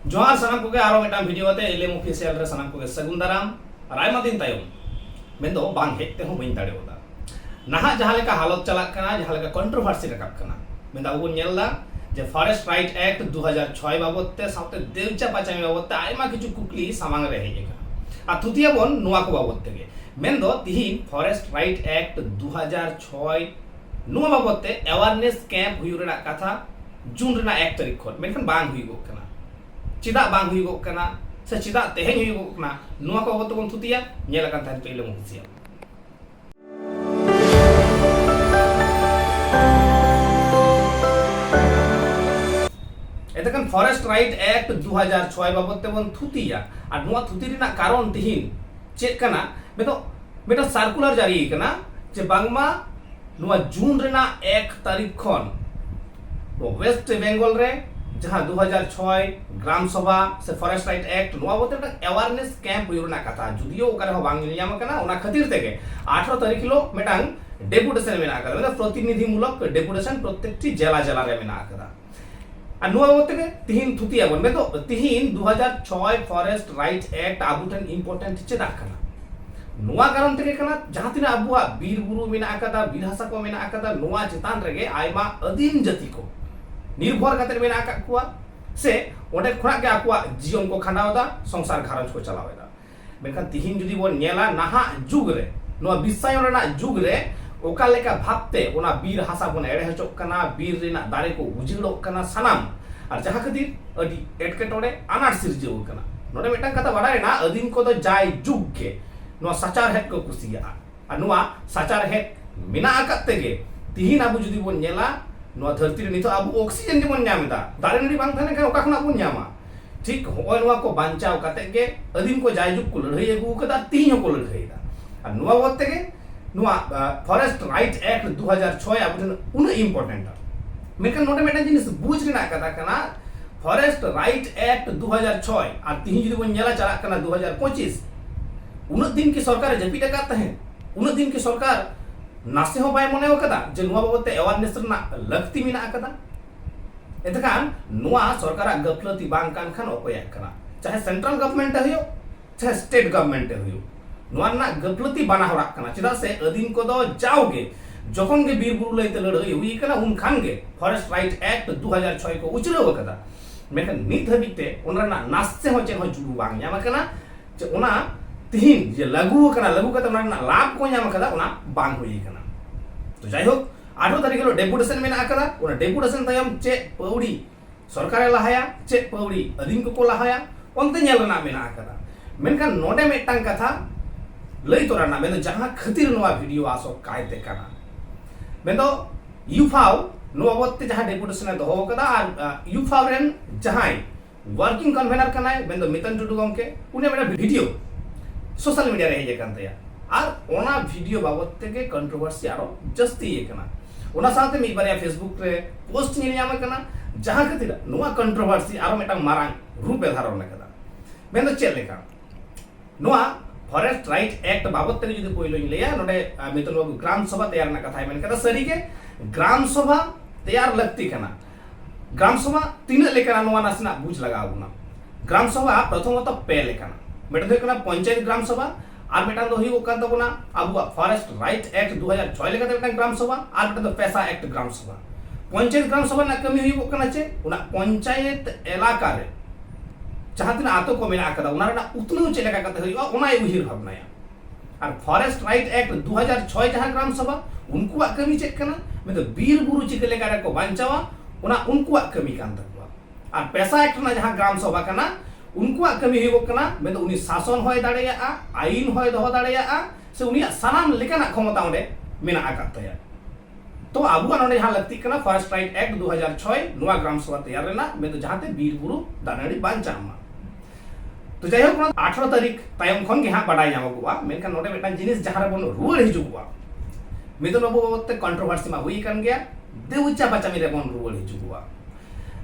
ᱡᱚᱦᱟᱨ ᱥᱟᱱᱟᱢ ᱠᱚᱜᱮ ᱟᱨᱚ ᱢᱤᱫᱴᱟᱝ ᱵᱷᱤᱰᱤᱭᱳ ᱟᱛᱮ ᱮᱞᱮᱢ ᱚᱯᱷᱤᱥᱤᱭᱟᱞ ᱨᱮ ᱥᱟᱱᱟᱢ ᱠᱚᱜᱮ ᱥᱟᱹᱜᱩᱱ ᱫᱟᱨᱟᱢ ᱟᱨ ᱟᱭᱢᱟ ᱫᱤᱱ ᱛᱟᱭᱚᱢ ᱢᱮᱱᱫᱚ ᱵᱟᱝ ᱦᱮᱡ ᱛᱮᱦᱚᱸ ᱵᱟᱹᱧ ᱫᱟᱲᱮᱣᱟᱫᱟ ᱱᱟᱦᱟᱜ ᱡᱟᱦᱟᱸ ᱞᱮᱠᱟ ᱦᱟᱞᱚᱛ ᱪᱟᱞᱟᱜ ᱠᱟᱱᱟ ᱡᱟᱦᱟᱸ ᱞᱮᱠᱟ ᱠᱚᱱᱴᱨᱳᱵᱷᱟᱨᱥᱤ ᱨᱟᱠᱟᱵ ᱠᱟᱱᱟ ᱢᱮᱱᱫᱚ ᱟᱵᱚ ᱵᱚᱱ ᱧᱮᱞ ᱮᱫᱟ ᱡᱮ ᱯᱷᱚᱨᱮᱥᱴ ᱨᱟᱭᱤᱴ ᱮᱠᱴ ᱫᱩ ᱦᱟᱡᱟᱨ ᱪᱷᱚᱭ ᱵᱟᱵᱚᱫ ᱛᱮ ᱥᱟᱶᱛᱮ ᱫᱮᱣᱪᱟ ᱯᱟᱪᱟᱢᱤ ᱵᱟᱵᱚᱫ ᱛᱮ ᱟᱭᱢᱟ ᱠᱤᱪᱷᱩ ᱠᱩᱠᱞᱤ ᱥᱟᱢᱟᱝ ᱨᱮ ᱦᱮᱡ ᱟᱠᱟᱱᱟ ᱟᱨ ᱛᱷᱩᱛᱤᱭᱟᱵᱚᱱ ᱱᱚᱣᱟ ᱠᱚ ᱵᱟᱵᱚᱫ ᱛᱮᱜᱮ ᱢᱮᱱᱫᱚ ᱛᱤᱦᱤᱧ ᱯᱷᱚᱨᱮᱥᱴ ᱨᱟᱭᱤᱴ ᱮᱠᱴ ᱫᱩ ᱦᱟᱡᱟᱨ ᱪᱷᱚᱭ ᱱᱚᱣᱟ ᱵᱟᱵᱚᱫ ᱛᱮ ᱮᱣᱟᱨᱱᱮᱥ ᱠᱮᱢᱯ ᱦᱩᱭᱩᱜ ᱨᱮᱱᱟᱜ ᱠᱟᱛᱷᱟ ᱡᱩᱱ ᱨᱮᱱᱟᱜ ᱮᱠ ᱛᱟᱹᱨᱤᱠᱷ ᱠᱷᱚᱱ ᱢᱮᱱᱠᱷᱟᱱ ᱵᱟᱝ ᱦᱩᱭᱩᱜᱚᱜ ᱠᱟᱱᱟ ᱪᱮᱫᱟᱜ ᱵᱟᱝ ᱦᱩᱭᱩᱜᱚᱜ ᱠᱟᱱᱟ ᱥᱮ ᱪᱮᱫᱟᱜ ᱛᱮᱦᱮᱧ ᱦᱩᱭᱩᱜᱚᱜ ᱠᱟᱱᱟ ᱱᱚᱣᱟ ᱠᱚ ᱵᱟᱵᱚᱫ ᱛᱮᱵᱚᱱ ᱛᱷᱩᱛᱤᱭᱟ ᱧᱮᱞ ᱟᱠᱟᱱ ᱛᱟᱦᱮᱸ ᱯᱟᱹᱭᱞᱟᱹ ᱢᱩᱦᱩᱨᱛᱤᱭᱟ ᱮᱛᱮᱠᱷᱟᱱ ᱯᱷᱚᱨᱮᱥᱴ ᱨᱟᱭᱤᱴ ᱮᱠᱴ ᱫᱩ ᱦᱟᱡᱟᱨ ᱪᱷᱚᱭ ᱵᱟᱵᱚᱫ ᱛᱮᱵᱚᱱ ᱛᱷᱩᱛᱤᱭᱟ ᱟᱨ ᱱᱚᱣᱟ ᱛᱷᱩᱛᱤ ᱨᱮᱱᱟᱜ ᱠᱟᱨᱚᱱ ᱛᱮᱦᱮᱧ ᱪᱮᱫ ᱠᱟᱱᱟ ᱢᱮᱱᱫᱚ ᱢᱤᱫᱴᱟᱝ ᱥᱟᱨᱠᱩᱞᱟᱨ ᱡᱟᱹᱨᱤ ᱟᱠᱟᱱᱟ ᱡᱮ ᱵᱟᱝᱢᱟ ᱱᱚᱣᱟ ᱡᱩᱱ ᱨᱮᱱᱟᱜ ᱮᱠ ᱛᱟᱹᱨᱤᱠᱷ ᱠᱷᱚᱱ ᱣᱮᱥᱴ ᱵᱮᱝᱜᱚᱞ ᱨᱮ ᱡᱟᱦᱟᱸ ᱫᱩ ᱦᱟᱡᱟᱨ ᱪᱷᱚᱭ ᱜᱨᱟᱢ ᱥᱚᱵᱷᱟ ᱥᱮ ᱯᱷᱚᱨᱮᱥᱴ ᱨᱟᱭᱤᱴ ᱮᱠᱴ ᱱᱚᱣᱟ ᱵᱚᱞᱛᱮ ᱢᱤᱫᱴᱟᱝ ᱮᱣᱟᱨᱱᱮᱥ ᱠᱮᱢᱯ ᱦᱩᱭᱩᱜ ᱨᱮᱱᱟᱜ ᱠᱟᱛᱷᱟ ᱡᱩᱫᱤᱭᱳ ᱚᱠᱟ ᱨᱮᱦᱚᱸ ᱵᱟᱝ ᱧᱮᱞ ᱧᱟᱢ ᱟᱠᱟᱱᱟ ᱚᱱᱟ ᱠᱷᱟᱹᱛᱤᱨ ᱛᱮᱜᱮ ᱟᱴᱷᱨᱚ ᱛᱟᱹᱨᱤᱠᱷ ᱦᱤᱞᱳᱜ ᱢᱤᱫᱴᱟᱝ ᱰᱮᱯᱩᱴᱮᱥᱚᱱ ᱢᱮᱱᱟᱜ ᱟᱠᱟᱫᱟ ᱢᱟᱱᱮ ᱯᱨᱚᱛᱤᱱᱤᱫᱷᱤ ᱢᱩᱞᱚᱠ ᱰᱮᱯᱩᱴᱮᱥᱚᱱ ᱯᱨᱚᱛᱮᱠᱴᱤ ᱡᱮᱞᱟ ᱡᱮᱞᱟ ᱨᱮ ᱢᱮᱱᱟᱜ ᱟᱠᱟᱫᱟ ᱟᱨ ᱱᱚᱣᱟ ᱢᱚᱛᱮ ᱜᱮ ᱛᱤᱦᱤᱧ ᱛᱷᱩᱛᱤ ᱟᱵᱚᱱ ᱢᱮᱱᱫᱚ ᱛᱤᱦᱤᱧ 2006 ᱯᱷᱚᱨᱮᱥᱴ ᱨᱟᱭᱤᱴ ᱮᱠᱴ ᱟᱵᱚ ᱴᱷᱮᱱ ᱤᱢᱯᱚᱨᱴᱮᱱᱴ ᱪᱮᱫᱟᱜ ᱠᱟᱱᱟ ᱱᱚᱣᱟ ᱠᱟᱨᱚᱱ ᱛᱮᱜᱮ ᱠᱟᱱᱟ ᱡᱟᱦᱟᱸ ᱛᱤᱱᱟᱹᱜ ᱟᱵᱚᱣᱟᱜ ᱵᱤᱨ ᱵᱩᱨᱩ ᱢᱮᱱᱟᱜ ᱟᱠᱟᱫᱟ ᱵᱤᱨ ᱦᱟᱥᱟ ᱠᱚ ᱢᱮᱱᱟᱜ ᱟᱠᱟᱫᱟ ᱱᱚᱣᱟ ᱪᱮᱛᱟᱱ ᱨᱮᱜᱮ ᱟᱭᱢᱟ ᱟᱹᱫᱤᱢ ᱡᱟᱹᱛᱤ ᱠᱚ ᱱᱤᱨᱵᱷᱚᱨ ᱠᱟᱛᱮ ᱢᱮᱱᱟᱜ ᱟᱠᱟᱫ ᱠᱚᱣᱟ ᱥᱮ ᱚᱸᱰᱮ ᱠᱷᱚᱱᱟᱜ ᱜᱮ ᱟᱠᱚᱣᱟᱜ ᱡᱤᱭᱚᱱ ᱠᱚ ᱠᱷᱟᱸᱰᱟᱣ ᱮᱫᱟ ᱥᱚᱝᱥᱟᱨ ᱜᱷᱟᱨᱚᱸᱡᱽ ᱠᱚ ᱪᱟᱞᱟᱣ ᱮᱫᱟ ᱢᱮᱱᱠᱷᱟᱱ ᱛᱤᱦᱤᱧ ᱡᱩᱫᱤ ᱵᱚᱱ ᱧᱮᱞᱟ ᱱᱟᱦᱟᱜ ᱡᱩᱜᱽ ᱨᱮ ᱱᱚᱣᱟ ᱵᱤᱥᱥᱟᱭᱚᱱ ᱨᱮᱱᱟᱜ ᱡᱩᱜᱽ ᱨᱮ ᱚᱠᱟ ᱞᱮᱠᱟ ᱵᱷᱟᱵᱛᱮ ᱚᱱᱟ ᱵᱤᱨ ᱦᱟᱥᱟ ᱵᱚᱱ ᱮᱲᱮ ᱦᱚᱪᱚᱜ ᱠᱟᱱᱟ ᱵᱤᱨ ᱨᱮᱱᱟᱜ ᱫᱟᱨᱮ ᱠᱚ ᱩᱡᱟᱹᱲᱚᱜ ᱠᱟᱱᱟ ᱥᱟᱱᱟᱢ ᱟᱨ ᱡᱟᱦᱟᱸ ᱠᱷᱟᱹᱛᱤᱨ ᱟᱹᱰᱤ ᱮᱴᱠᱮᱴᱚᱬᱮ ᱟᱱᱟᱴ ᱥᱤᱨᱡᱟᱹᱣ ᱟᱠᱟᱱᱟ ᱱᱚᱰᱮ ᱢᱤᱫᱴᱟᱝ ᱠᱟᱛᱷᱟ ᱵᱟᱰᱟᱭᱮᱱᱟ ᱟᱹᱫᱤᱢ ᱠᱚᱫᱚ ᱡᱟᱭ ᱡᱩᱜᱽ ᱜᱮ ᱱᱚᱣᱟ ᱥᱟᱪᱟᱨᱦᱮᱫ ᱠᱚ ᱠᱩᱥᱤᱭᱟᱜᱼᱟ ᱟᱨ ᱱᱚᱣᱟ ᱥᱟᱪᱟᱨᱦᱮᱫ ᱢᱮᱱᱟᱜ ᱟᱠᱟᱫ ᱛᱮᱜᱮ ᱛᱤᱦᱤᱧ ᱟᱵᱚ ᱡᱩᱫᱤ ᱵᱚᱱ ᱧᱮᱞᱟ ᱱᱚᱣᱟ ᱫᱷᱟᱹᱨᱛᱤ ᱨᱮ ᱱᱤᱛᱚᱜ ᱟᱵᱚ ᱚᱠᱥᱤᱡᱮᱱ ᱜᱮᱵᱚᱱ ᱧᱟᱢ ᱮᱫᱟ ᱫᱟᱨᱮ ᱱᱟᱹᱲᱤ ᱵᱟᱝ ᱛᱟᱦᱮᱸ ᱞᱮᱱᱠᱷᱟᱱ ᱚᱠᱟ ᱠᱷᱚᱱᱟᱜ ᱵᱚᱱ ᱧᱟᱢᱟ ᱴᱷᱤᱠ ᱦᱚᱸᱜᱼᱚᱭ ᱱᱚᱣᱟ ᱠᱚ ᱵᱟᱧᱪᱟᱣ ᱠᱟᱛᱮ ᱜᱮ ᱟᱹᱫᱤᱢ ᱠᱚ ᱡᱟᱭᱡᱩᱜᱽ ᱠᱚ ᱞᱟᱹᱲᱦᱟᱹᱭ ᱟᱹᱜᱩ ᱟᱠᱟᱫᱟ ᱛᱤᱦᱤᱧ ᱦᱚᱸᱠᱚ ᱞᱟᱹᱲᱦᱟᱹᱭᱮᱫᱟ ᱟᱨ ᱱᱚᱣᱟ ᱵᱟᱵᱚᱫ ᱛᱮᱜᱮ ᱱᱚᱣᱟ ᱯᱷᱚᱨᱮᱥᱴ ᱨᱟᱭᱤᱴ ᱮᱠᱴ ᱫᱩ ᱦᱟᱡᱟᱨ ᱪᱷᱚᱭ ᱟᱵᱚ ᱴᱷᱮᱱ ᱩᱱᱟᱹᱜ ᱤᱢᱯᱚᱨᱴᱮᱱᱴᱟ ᱢᱮᱱᱠᱷᱟᱱ ᱱᱚᱰᱮ ᱢᱤᱫᱴᱟᱝ ᱡᱤᱱᱤᱥ ᱵᱩᱡᱽ ᱨᱮᱱᱟᱜ ᱠᱟᱛᱷᱟ ᱠᱟᱱᱟ ᱯᱷᱚᱨᱮᱥᱴ ᱨᱟᱭᱤᱴ ᱮᱠᱴ ᱫᱩ ᱦᱟᱡᱟᱨ ᱪᱷᱚᱭ ᱟᱨ ᱛᱤᱦᱤᱧ ᱡᱩᱫᱤ ᱵᱚᱱ ᱧᱮᱞᱟ ᱪᱟᱞᱟᱜ ᱠᱟᱱᱟ ᱫᱩ ᱦᱟᱡᱟᱨ ᱯᱚᱸᱪᱤᱥ ᱩᱱᱟᱹᱜ ᱫᱤᱱ ᱠᱤ ᱥᱚᱨᱠᱟᱨ ᱡᱟᱹᱯᱤᱫ ᱟᱠᱟᱫ ᱛᱟᱦᱮᱸᱫ ᱩᱱᱟᱹᱜ ᱫᱤᱱ ᱠᱤ ᱥᱚᱨᱠᱟᱨ ᱱᱟᱥᱮ ᱦᱚᱸ ᱵᱟᱭ ᱢᱚᱱᱮ ᱟᱠᱟᱫᱟ ᱡᱮ ᱱᱚᱣᱟ ᱵᱟᱵᱚᱛ ᱛᱮ ᱮᱣᱟᱨᱱᱮᱥ ᱨᱮᱱᱟᱜ ᱞᱟᱹᱠᱛᱤ ᱢᱮᱱᱟᱜ ᱟᱠᱟᱫᱟ ᱮᱛᱠᱷᱟᱱ ᱱᱚᱣᱟ ᱥᱚᱨᱠᱟᱨᱟᱜ ᱜᱟᱹᱯᱞᱟᱹᱛᱤ ᱵᱟᱝ ᱠᱟᱱ ᱠᱷᱟᱱ ᱚᱠᱚᱭᱟᱜ ᱠᱟᱱᱟ ᱪᱟᱦᱮ ᱥᱮᱱᱴᱨᱟᱞ ᱜᱚᱵᱷᱢᱮᱱᱴ ᱮ ᱦᱩᱭᱩᱜ ᱪᱟᱦᱮ ᱥᱴᱮᱴ ᱜᱚᱵᱷᱢᱮᱱᱴ ᱮ ᱦᱩᱭᱩᱜ ᱱᱚᱣᱟ ᱨᱮᱱᱟᱜ ᱜᱟᱹᱯᱞᱟᱹᱛᱤ ᱵᱟᱱᱟ ᱦᱚᱲᱟᱜ ᱠᱟᱱᱟ ᱪᱮᱫᱟᱜ ᱥᱮ ᱟᱹᱫᱤᱢ ᱠᱚᱫᱚ ᱡᱟᱣᱜᱮ ᱡᱚᱠᱷᱚᱱ ᱜᱮ ᱵᱤᱨ ᱵᱩᱨᱩ ᱞᱟᱹᱭᱛᱮ ᱞᱟᱹᱲᱦᱟᱹᱭ ᱦᱩᱭ ᱟᱠᱟᱱᱟ ᱩᱱ ᱠᱷᱟᱱ ᱜᱮ ᱯᱷᱚᱨᱮᱥᱴ ᱨᱟᱭᱤᱴ ᱮᱠᱴ 2006 ᱠᱚ ᱩᱪᱷᱞᱟᱹᱣ ᱟᱠᱟᱫᱟ ᱢᱮᱱᱠᱷᱟᱱ ᱱᱤᱛ ᱦᱟᱹᱵᱤᱡ ᱛᱮ ᱚᱱᱟ ᱨᱮᱱᱟᱜ ᱱᱟᱥᱮ ᱦᱚᱸ ᱪᱮᱫ ᱦᱚᱸ ᱡᱩᱲᱩ ᱵᱟᱝ ᱧᱟᱢ ᱟᱠᱟᱱᱟ ᱡᱮ ᱚᱱᱟ ᱛᱤᱦᱤᱧ ᱡᱮ ᱞᱟᱹᱜᱩ ᱟᱠᱟᱱᱟ ᱞᱟᱹᱜᱩ ᱠᱟᱛᱮ ᱚᱱᱟ ᱨᱮᱱᱟᱜ ᱞᱟᱵᱷ ᱠᱚ ᱧᱟᱢ ᱟᱠᱟᱫᱟ ᱚᱱᱟ ᱵᱟᱝ ᱦᱩᱭ ᱟᱠᱟᱱᱟ ᱛᱚ ᱡᱟᱭᱦᱳᱠ ᱟᱴᱷᱨᱚ ᱛᱟᱹᱨᱤᱠᱷ ᱦᱤᱞᱳᱜ ᱰᱮᱯᱩᱴᱮᱥᱚᱱ ᱢᱮᱱᱟᱜ ᱟᱠᱟᱫᱟ ᱚᱱᱟ ᱰᱮᱯᱩᱴᱮᱥᱚᱱ ᱛᱟᱭᱚᱢ ᱪᱮᱫ ᱯᱟᱹᱣᱲᱤ ᱥᱚᱨᱠᱟᱨᱮ ᱞᱟᱦᱟᱭᱟ ᱪᱮᱫ ᱯᱟᱹᱣᱲᱤ ᱟᱹᱫᱤᱢ ᱠᱚᱠᱚ ᱞᱟᱦᱟᱭᱟ ᱚᱱᱛᱮ ᱧᱮᱞ ᱨᱮᱱᱟᱜ ᱢᱮᱱᱟᱜ ᱟᱠᱟᱫᱟ ᱢᱮᱱᱠᱷᱟᱱ ᱱᱚᱰᱮ ᱢᱤᱫᱴᱟᱝ ᱠᱟᱛᱷᱟ ᱞᱟᱹᱭ ᱛᱚᱨᱟ ᱨᱮᱱᱟᱜ ᱢᱮᱱᱫᱚ ᱡᱟᱦᱟᱸ ᱠᱷᱟᱹᱛᱤᱨ ᱱᱚᱣᱟ ᱵᱷᱤᱰᱤᱭᱳ ᱟᱥᱚᱜ ᱠᱟᱭᱛᱮ ᱠᱟᱱᱟ ᱢᱮᱱᱫᱚ ᱭᱩᱯᱷᱟᱣ ᱱᱚᱣᱟ ᱵᱟᱵᱚᱫ ᱛᱮ ᱡᱟᱦᱟᱸ ᱰᱮᱯᱩᱴᱮᱥᱚᱱ ᱮ ᱫᱚᱦᱚ ᱟᱠᱟᱫᱟ ᱟᱨ ᱭᱩᱯᱷᱟᱣ ᱨᱮᱱ ᱡᱟᱦᱟᱸᱭ ᱣᱟᱨᱠᱤᱝ ᱠᱚᱱᱵᱷᱮᱱᱟᱨ ᱠᱟᱱᱟᱭ ᱢᱮᱱᱫᱚ ᱢᱤᱛᱟᱱ ᱴᱩᱰᱩ ᱜᱚᱢᱠᱮ ᱩᱱᱤ ᱢᱤᱫᱴᱟᱝ ᱵᱷᱤᱰᱤᱭᱳ ᱥᱳᱥᱟᱞ ᱢᱤᱰᱤᱭᱟ ᱨᱮ ᱦᱮᱡ ᱟᱠᱟᱱ ᱛᱟᱭᱟ ᱟᱨ ᱚᱱᱟ ᱵᱷᱤᱰᱤᱭᱳ ᱵᱟᱵᱚᱛ ᱛᱮᱜᱮ ᱠᱚᱱᱴᱨᱳᱵᱷᱟᱨᱥᱤ ᱟᱨᱚ ᱡᱟᱹᱥᱛᱤ ᱟᱠᱟᱱᱟ ᱚᱱᱟ ᱥᱟᱶᱛᱮ ᱢᱤᱫ ᱵᱟᱨᱭᱟ ᱯᱷᱮᱥᱵᱩᱠ ᱨᱮ ᱯᱳᱥᱴ ᱧᱮᱞ ᱧᱟᱢ ᱟᱠᱟᱱᱟ ᱡᱟᱦᱟᱸ ᱠᱷᱟᱹᱛᱤᱨ ᱱᱚᱣᱟ ᱠᱚᱱᱴᱨᱳᱵᱷᱟᱨᱥᱤ ᱟᱨᱚ ᱢᱤᱫᱴᱟᱝ ᱢᱟᱨᱟᱝ ᱨᱩᱯ ᱮ ᱫᱷᱟᱨᱚᱱ ᱟᱠᱟᱫᱟ ᱢᱮᱱᱫᱚ ᱪᱮᱫ ᱞᱮᱠᱟ ᱱᱚᱣᱟ ᱯᱷᱚᱨᱮᱥᱴ ᱨᱟᱭᱤᱴ ᱮᱠᱴ ᱵᱟᱵᱚᱛ ᱛᱮ ᱡᱩᱫᱤ ᱯᱳᱭᱞᱳᱧ ᱞᱟᱹᱭᱟ ᱱᱚᱰᱮ ᱢᱤᱛᱚᱱ ᱵᱟᱵᱩ ᱜᱨᱟᱢ ᱥᱚᱵᱷᱟ ᱛᱮᱭᱟᱨ ᱨᱮᱱᱟᱜ ᱠᱟᱛᱷᱟᱭ ᱢᱮᱱ ᱠᱟᱫᱟ ᱥᱟᱹᱨᱤᱜᱮ ᱜᱨᱟᱢ ᱥᱚᱵᱷᱟ ᱛᱮᱭᱟᱨ ᱞᱟᱹᱠᱛᱤ ᱠᱟᱱᱟ ᱜᱨᱟᱢ ᱥᱚᱵᱷᱟ ᱛᱤᱱᱟᱹᱜ ᱞᱮᱠᱟᱱᱟ ᱱᱚᱣᱟ ᱱᱟᱥᱮᱱᱟᱜ ᱵᱩᱡᱽ ᱞᱟᱜᱟᱣ ᱵᱚᱱᱟ ᱜᱨᱟᱢ ᱥᱚᱵᱷᱟ ᱯᱨᱚᱛᱷᱚᱢᱚᱛᱚ ᱯᱮ ᱞᱮᱠᱟᱱᱟ ᱢᱤᱫᱴᱟᱝ ᱦᱩᱭᱩᱜ ᱠᱟᱱᱟ ᱯᱚᱧᱪᱟᱭᱮᱛ ᱜᱨᱟᱢ ᱥᱚᱵᱷᱟ ᱟᱨ ᱢᱤᱫᱴᱟᱝ ᱫᱚ ᱦᱩᱭᱩᱜ ᱠᱟᱱ ᱛᱟᱵᱚᱱᱟ ᱟᱵᱚᱣᱟᱜ ᱯᱷᱚᱨᱮᱥᱴ ᱨᱟᱭᱤᱴ ᱮᱠᱴ 2006 ᱞᱮᱠᱟᱛᱮ ᱢᱤᱫᱴᱟᱝ ᱜᱨᱟᱢ ᱥᱚᱵᱷᱟ ᱟᱨ ᱢᱤᱫᱴᱟᱝ ᱫᱚ ᱯᱮᱥᱟ ᱮᱠᱴ ᱜᱨᱟᱢ ᱥᱚᱵᱷᱟ ᱯᱚᱧᱪᱟᱭᱮᱛ ᱜᱨᱟᱢ ᱥᱚᱵᱷᱟ ᱨᱮᱱᱟᱜ ᱠᱟᱹᱢᱤ ᱦᱩᱭᱩᱜ ᱠᱟᱱᱟ ᱪᱮᱫ ᱚᱱᱟ ᱯᱚᱧᱪᱟᱭᱮᱛ ᱮᱞᱟᱠᱟ ᱨᱮ ᱡᱟᱦᱟᱸ ᱛᱤᱱᱟᱹᱜ ᱟᱛᱳ ᱠᱚ ᱢᱮᱱᱟᱜ ᱟᱠᱟᱫᱟ ᱚᱱᱟ ᱨᱮᱱᱟᱜ ᱩᱛᱱᱟᱹᱣ ᱪᱮᱫ ᱞᱮᱠᱟ ᱠᱟᱛᱮ ᱦᱩᱭᱩᱜᱼᱟ ᱚᱱᱟᱭ ᱩᱭᱦᱟᱹᱨ ᱵᱷᱟᱵᱽᱱᱟᱭᱟ ᱟᱨ ᱯᱷᱚᱨᱮᱥᱴ ᱨᱟᱭᱤᱴ ᱮᱠᱴ 2006 ᱡᱟᱦᱟᱸ ᱜᱨᱟᱢ ᱥᱚᱵᱷᱟ ᱩᱱᱠᱩᱣᱟᱜ ᱠᱟᱹᱢᱤ ᱪᱮᱫ ᱠᱟᱱᱟ ᱢᱮᱱᱫᱚ ᱵᱤᱨ ᱵᱩᱨᱩ ᱪᱤᱠᱟᱹ ᱞᱮᱠᱟ ᱨᱮᱠᱚ ᱵᱟᱧᱪᱟᱣᱟ ᱚᱱᱟ ᱩᱱᱠᱩᱣᱟᱜ ᱠᱟᱹᱢᱤ ᱠᱟᱱ ᱛᱟᱠᱚᱣᱟ ᱟᱨ ᱯᱮᱥᱟ ᱮᱠᱴ ᱨᱮᱱᱟᱜ ᱡᱟᱦᱟᱸ ᱜᱨᱟᱢ ᱥᱚᱵᱷᱟ ᱠᱟᱱᱟ ᱩᱱᱠᱩᱣᱟᱜ ᱠᱟᱹᱢᱤ ᱦᱩᱭᱩᱜ ᱠᱟᱱᱟ ᱢᱮᱱᱫᱚ ᱩᱱᱤ ᱥᱟᱥᱚᱱ ᱦᱚᱭ ᱫᱟᱲᱮᱭᱟᱜᱼᱟ ᱟᱭᱤᱱ ᱦᱚᱭ ᱫᱚᱦᱚ ᱫᱟᱲᱮᱭᱟᱜᱼᱟ ᱥᱮ ᱩᱱᱤᱭᱟᱜ ᱥᱟᱱᱟᱢ ᱞᱮᱠᱟᱱᱟᱜ ᱠᱷᱚᱢᱚᱛᱟ ᱚᱸᱰᱮ ᱢᱮᱱᱟᱜ ᱟᱠᱟᱫ ᱛᱟᱭᱟ ᱛᱚ ᱟᱵᱚᱣᱟᱜ ᱱᱚᱰᱮ ᱡᱟᱦᱟᱸ ᱞᱟᱹᱠᱛᱤᱜ ᱠᱟᱱᱟ ᱯᱷᱚᱨᱮᱥᱴ ᱨᱟᱭᱤᱴ ᱮᱠᱴ 2006 ᱱᱚᱣᱟ ᱜᱨᱟᱢ ᱥᱚᱵᱷᱟ ᱛᱮᱭᱟᱨ ᱨᱮᱱᱟᱜ ᱢᱮᱱᱫᱚ ᱡᱟᱦᱟᱸᱛᱮ ᱵᱤᱨ ᱵᱩᱨᱩ ᱫᱟᱨᱮ ᱱᱟᱹᱲᱤ ᱵᱟᱧᱪᱟᱜ ᱢᱟ ᱛᱚ ᱡᱟᱭᱦᱳᱠ ᱱᱚᱣᱟ ᱟᱴᱷᱨᱚ ᱛᱟᱹᱨᱤᱠᱷ ᱛᱟᱭᱚᱢ ᱠᱷᱚᱱ ᱜᱮ ᱦᱟᱸᱜ ᱵᱟᱰᱟᱭ ᱧᱟᱢᱚᱜᱚᱜᱼᱟ ᱢᱮᱱᱠᱷᱟᱱ ᱱᱚᱰᱮ ᱢᱤᱫᱴᱟᱝ ᱡᱤᱱᱤᱥ ᱡᱟᱦᱟᱸ ᱨᱮᱵᱚᱱ ᱨᱩᱣᱟᱹᱲ ᱦᱤᱡᱩᱜᱚᱜᱼᱟ ᱢᱤᱫᱩᱱ ᱵᱟᱹᱵᱩ ᱵᱟᱵᱚᱫ ᱛᱮ ᱠᱚᱱᱴᱨᱳᱵᱷᱟᱨᱥᱤ ᱢᱟ ᱦᱩᱭ ᱟᱠᱟᱱ ᱜᱮᱭᱟ ᱫᱮᱣᱪᱟ ᱵᱟᱪᱟᱢᱤ ᱨᱮᱵᱚᱱ ᱨᱩᱣᱟᱹᱲ ᱦᱤᱡᱩᱜᱚᱜᱼᱟ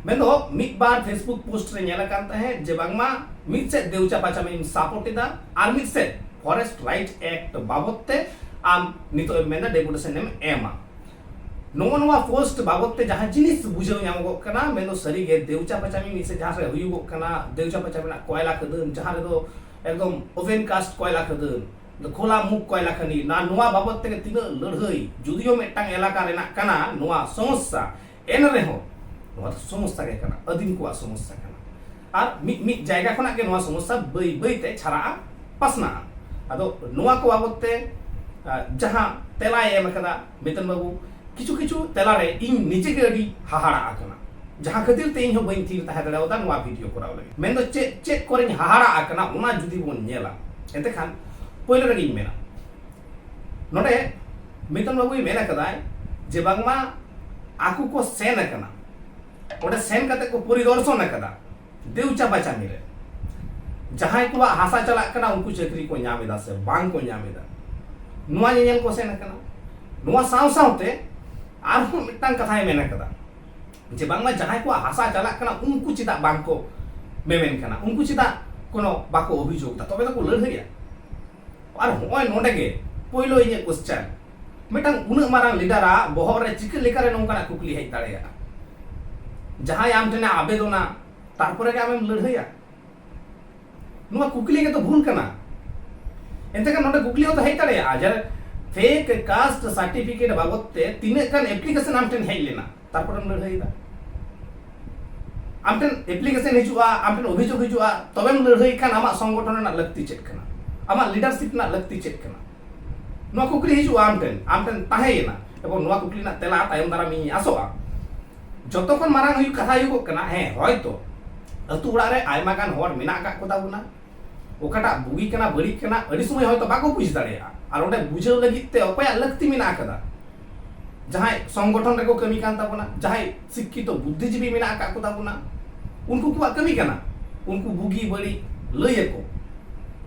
ᱢᱮᱱᱫᱚ ᱢᱤᱫ ᱵᱟᱨ ᱯᱷᱮᱥᱵᱩᱠ ᱯᱳᱥᱴ ᱨᱮ ᱧᱮᱞ ᱟᱠᱟᱱ ᱛᱟᱦᱮᱸᱫ ᱡᱮ ᱵᱟᱝᱢᱟ ᱢᱤᱫ ᱥᱮᱫ ᱫᱮᱣᱪᱟ ᱵᱟᱪᱟᱢᱤᱢ ᱥᱟᱯᱳᱨᱴ ᱮᱫᱟ ᱟᱨ ᱢᱤᱫ ᱥᱮᱫ ᱯᱷᱚᱨᱮᱥᱴ ᱨᱟᱭᱤᱴ ᱮᱠᱴ ᱵᱟᱵᱚᱫ ᱛᱮ ᱟᱢ ᱱᱤᱛᱚᱜ ᱮᱢ ᱢᱮᱱᱫᱟ ᱰᱮᱯᱩᱴᱮᱥᱚᱱ ᱮᱢ ᱮᱢᱟ ᱱᱚᱜᱼᱚ ᱱᱚᱣᱟ ᱯᱳᱥᱴ ᱵᱟᱵᱚᱛ ᱛᱮ ᱡᱟᱦᱟᱸ ᱡᱤᱱᱤᱥ ᱵᱩᱡᱷᱟᱹᱣ ᱧᱟᱢᱚᱜᱚᱜ ᱠᱟᱱᱟ ᱢᱮᱱᱫᱚ ᱥᱟᱹᱨᱤᱜᱮ ᱫᱮᱣᱪᱟ ᱯᱟᱪᱟᱢᱤ ᱢᱤᱫ ᱥᱮ ᱡᱟᱦᱟᱸ ᱨᱮ ᱦᱩᱭᱩᱜᱚᱜ ᱠᱟᱱᱟ ᱫᱮᱣᱪᱟ ᱯᱟᱪᱟᱢᱤ ᱨᱮᱱᱟᱜ ᱠᱚᱭᱞᱟ ᱠᱷᱟᱹᱫᱟᱹᱱ ᱡᱟᱦᱟᱸ ᱨᱮᱫᱚ ᱮᱠᱫᱚᱢ ᱳᱵᱷᱮᱱ ᱠᱟᱥᱴ ᱠᱚᱭᱞᱟ ᱠᱷᱟᱹᱫᱟᱹᱱ ᱠᱷᱳᱞᱟ ᱢᱩᱠ ᱠᱚᱭᱞᱟ ᱠᱷᱟᱹᱱᱤ ᱱᱟ ᱱᱚᱣᱟ ᱵᱟᱵᱚᱛ ᱛᱮᱜᱮ ᱛᱤᱱᱟᱹᱜ ᱞᱟᱹᱲᱦᱟᱹᱭ ᱡᱩᱫᱤᱭᱳ ᱢᱤᱫᱴᱟᱝ ᱮᱞᱟᱠᱟ ᱨᱮᱱᱟᱜ ᱠᱟᱱᱟ ᱱᱚᱣᱟ ᱥᱚᱢᱚᱥᱥᱟ ᱮᱱ ᱨᱮᱦᱚᱸ ᱱᱚᱣᱟ ᱫᱚ ᱥᱚᱢᱚᱥᱥᱟ ᱜᱮ ᱠᱟᱱᱟ ᱟᱹᱫᱤᱢ ᱠᱚᱣᱟᱜ ᱥᱚᱢᱚᱥᱥᱟ ᱠᱟᱱᱟ ᱟᱨ ᱢᱤᱫ ᱢᱤᱫ ᱡᱟᱭᱜᱟ ᱠᱷᱚᱱᱟᱜ ᱜᱮ ᱱᱚᱣᱟ ᱥᱚᱢᱚᱥᱥᱟ ᱵᱟᱹᱭ ᱵᱟᱹᱭ ᱛᱮ ᱪᱷᱟᱨᱟᱜᱼᱟ ᱯᱟᱥᱱᱟᱜᱼᱟ ᱟᱫᱚ ᱱᱚᱣᱟ ᱠᱚ ᱵᱟᱵᱚᱛ ᱛᱮ ᱡᱟᱦᱟᱸ ᱛᱮᱞᱟᱭ ᱮᱢ ᱟᱠᱟᱫᱟ ᱢᱤᱛᱚᱱ ᱵᱟᱹᱵᱩ ᱠᱤᱪᱷᱩ ᱠᱤᱪᱷᱩ ᱛᱮᱞᱟᱨᱮ ᱤᱧ ᱱᱤᱡᱮ ᱜᱮ ᱟᱹᱰᱤ ᱦᱟᱦᱟᱲᱟ ᱟᱠᱟᱱᱟ ᱡᱟᱦᱟᱸ ᱠᱷᱟᱹᱛᱤᱨ ᱛᱮ ᱤᱧ ᱦᱚᱸ ᱵᱟᱹᱧ ᱛᱷᱤᱨ ᱛᱟᱦᱮᱸ ᱫᱟᱲᱮᱭᱟᱫᱟ ᱱᱚᱣᱟ ᱵᱷᱤᱰᱤᱭᱳ ᱠᱚᱨᱟᱣ ᱞᱟᱹᱜᱤᱫ ᱢᱮᱱᱫᱚ ᱪᱮᱫ ᱪᱮᱫ ᱠᱚᱨᱮᱧ ᱦᱟᱦᱟᱲᱟ ᱟᱠᱟᱱᱟ ᱚᱱᱟ ᱡᱩᱫᱤ ᱵᱚᱱ ᱧᱮᱞᱟ ᱮᱱᱛᱮ ᱠᱷᱟᱱ ᱯᱳᱭᱞᱳ ᱨᱮᱜᱮᱧ ᱢᱮᱱᱟ ᱱᱚᱰᱮ ᱢᱤᱛᱚᱱ ᱵᱟᱹᱵᱩᱭ ᱢᱮᱱ ᱟᱠᱟᱫᱟᱭ ᱡᱮ ᱵᱟᱝᱢᱟ ᱟᱠᱚ ᱠᱚ ᱥᱮᱱ ᱟᱠᱟᱱᱟ ᱚᱸᱰᱮ ᱥᱮᱱ ᱠᱟᱛᱮ ᱠᱚ ᱯᱚᱨᱤᱫᱚᱨᱥᱚᱱ ᱟᱠᱟᱫᱟ ᱫᱮᱣᱪᱟ ᱵᱟᱪᱟᱢᱤ ᱨᱮ ᱡᱟᱦᱟᱸᱭ ᱠᱚᱣᱟᱜ ᱦᱟᱥᱟ ᱪᱟᱞᱟᱜ ᱠᱟᱱᱟ ᱩᱱᱠᱩ ᱪᱟᱹᱠᱨᱤ ᱠᱚ ᱧᱟᱢ ᱮᱫᱟ ᱥᱮ ᱵᱟᱝ ᱠᱚ ᱧᱟᱢ ᱮᱫᱟ ᱱᱚᱣᱟ ᱧᱮᱧᱮᱞ ᱠᱚ ᱥᱮᱱ ᱟᱠᱟᱱᱟ ᱱᱚᱣᱟ ᱥᱟᱶ ᱥᱟᱶᱛᱮ ᱟᱨᱦᱚᱸ ᱢᱤᱫᱴᱟᱝ ᱠᱟᱛᱷᱟᱭ ᱢᱮᱱ ᱟᱠᱟᱫᱟ ᱡᱮ ᱵᱟᱝᱢᱟ ᱡᱟᱦᱟᱸᱭ ᱠᱚᱣᱟᱜ ᱦᱟᱥᱟ ᱪᱟᱞᱟᱜ ᱠᱟᱱᱟ ᱩᱱᱠᱩ ᱪᱮᱫᱟᱜ ᱵᱟᱝ ᱠᱚ ᱢᱮᱢᱮᱱ ᱠᱟᱱᱟ ᱩᱱᱠᱩ ᱪᱮᱫᱟᱜ ᱠᱳᱱᱳ ᱵᱟᱠᱚ ᱚᱵᱷᱤᱡᱳᱜᱽ ᱮᱫᱟ ᱛᱚᱵᱮ ᱛᱚᱠᱚ ᱞᱟᱹᱲᱦᱟᱹᱭᱟ ᱟᱨ ᱦᱚᱸᱜᱼᱚᱭ ᱱᱚᱰᱮ ᱜᱮ ᱯᱳᱭᱞᱳ ᱤᱧᱟᱹᱜ ᱠᱚᱥᱪᱟᱱ ᱢᱤᱫᱴᱟᱝ ᱩᱱᱟᱹᱜ ᱢᱟᱨᱟᱝ ᱞᱤᱰᱟᱨᱟᱜ ᱵᱚᱦᱚᱜ ᱨᱮ ᱪᱤᱠᱟᱹ ᱞᱮᱠᱟᱨᱮ ᱱᱚᱝᱠᱟᱱᱟᱜ ᱠᱩᱠᱞᱤ ᱦᱮᱡ ᱫᱟᱲᱮᱭᱟᱜᱼᱟ ᱡᱟᱦᱟᱸᱭ ᱟᱢ ᱴᱷᱮᱱᱮ ᱟᱵᱮᱫᱚᱱᱟ ᱛᱟᱨᱯᱚᱨᱮ ᱜᱮ ᱟᱢᱮᱢ ᱞᱟᱹᱲᱦᱟᱹᱭᱟ ᱱᱚᱣᱟ ᱠᱩᱠᱞᱤ ᱜᱮᱛᱚ ᱵᱷᱩᱞ ᱠᱟᱱᱟ ᱮᱱᱛᱮ ᱠᱷᱟᱱ ᱱᱚᱰᱮ ᱠᱩᱠᱞᱤ ᱦᱚᱸᱛᱚ ᱦᱮᱡ ᱫᱟᱲᱮᱭᱟᱜᱼᱟ ᱡᱮ ᱯᱷᱮᱠ ᱠᱟᱥᱴ ᱥᱟᱨᱴᱤᱯᱷᱤᱠᱮᱴ ᱵᱟᱵᱚᱫ ᱛᱮ ᱛᱤᱱᱟᱹᱜ ᱜᱟᱱ ᱮᱯᱞᱤᱠᱮᱥᱚᱱ ᱟᱢ ᱴᱷᱮᱱ ᱦᱮᱡ ᱞᱮᱱᱟ ᱛᱟᱨᱯᱚᱨᱮᱢ ᱞᱟᱹᱲᱦᱟᱹᱭᱮᱫᱟ ᱟᱢ ᱴᱷᱮᱱ ᱮᱯᱞᱤᱠᱮᱥᱚᱱ ᱦᱤᱡᱩᱜᱼᱟ ᱟᱢ ᱴᱷᱮᱱ ᱚᱵᱷᱤᱡᱳᱜᱽ ᱦᱤᱡᱩᱜᱼᱟ ᱛᱚᱵᱮᱢ ᱞᱟᱹᱲᱦᱟᱹᱭ ᱠᱷᱟᱱ ᱟᱢᱟᱜ ᱥᱚᱝᱜᱚᱴᱷᱚᱱ ᱨᱮᱱᱟᱜ ᱞᱟᱹᱠᱛᱤ ᱪᱮᱫ ᱠᱟᱱᱟ ᱟᱢᱟᱜ ᱞᱤᱰᱟᱨᱥᱤᱯ ᱨᱮᱱᱟᱜ ᱞᱟᱹᱠᱛᱤ ᱪᱮᱫ ᱠᱟᱱᱟ ᱱᱚᱣᱟ ᱠᱩᱠᱞᱤ ᱦᱤᱡᱩᱜᱼᱟ ᱟᱢ ᱴᱷᱮᱱ ᱟᱢ ᱴᱷᱮᱱ ᱛᱟᱦᱮᱸᱭᱮᱱᱟ ᱮᱵᱚᱝ ᱱᱚᱣᱟ ᱠᱩᱠᱞᱤ ᱨᱮᱱᱟᱜ ᱛᱮᱞᱟ ᱛᱟᱭᱚᱢ ᱫᱟᱨᱟᱢ ᱤᱧ ᱟᱥᱚᱜᱼᱟ ᱡᱚᱛᱚ ᱠᱷᱚᱱ ᱢᱟᱨᱟᱝ ᱦᱩᱭᱩᱜ ᱠᱟᱛᱷᱟ ᱦᱩᱭᱩᱜᱚᱜ ᱠᱟᱱᱟ ᱦᱮᱸ ᱦᱚᱭᱛᱚ ᱟᱹᱛᱩ ᱚᱲᱟᱜ ᱨᱮ ᱟᱭᱢᱟ ᱜᱟᱱ ᱦᱚᱲ ᱢᱮᱱᱟᱜ ᱟᱠᱟᱫ ᱠᱚᱛᱟ ᱵᱚᱱᱟ ᱚᱠᱟᱴᱟᱜ ᱵᱩᱜᱤ ᱠᱟᱱᱟ ᱵᱟᱹᱲᱤᱡ ᱠᱟᱱᱟ ᱟᱹᱰᱤ ᱥᱚᱢᱚᱭ ᱦᱚᱭᱛᱚ ᱵᱟᱠᱚ ᱵᱩᱡᱽ ᱫᱟᱲᱮᱭᱟᱜᱼᱟ ᱟᱨ ᱚᱸᱰᱮ ᱵᱩᱡᱷᱟᱹᱣ ᱞᱟᱹᱜᱤᱫ ᱛᱮ ᱚᱠᱚᱭᱟᱜ ᱞᱟᱹᱠᱛᱤ ᱢᱮᱱᱟᱜ ᱟᱠᱟᱫᱟ ᱡᱟᱦᱟᱸᱭ ᱥᱚᱝᱜᱚᱴᱷᱚᱱ ᱨᱮᱠᱚ ᱠᱟᱹᱢᱤ ᱠᱟᱱ ᱛᱟᱵᱚᱱᱟ ᱡᱟᱦᱟᱸᱭ ᱥᱤᱠᱠᱷᱤᱛᱚ ᱵᱩᱫᱽᱫᱷᱤᱡᱤᱵᱤ ᱢᱮᱱᱟᱜ ᱟᱠᱟᱫ ᱠᱚ ᱛᱟᱵᱚᱱᱟ ᱩᱱᱠᱩ ᱠᱚᱣᱟᱜ ᱠᱟᱹᱢᱤ ᱠᱟᱱᱟ ᱩᱱᱠᱩ ᱵᱩᱜᱤ ᱵᱟᱹᱲᱤᱡ ᱞᱟᱹᱭ ᱟᱠᱚ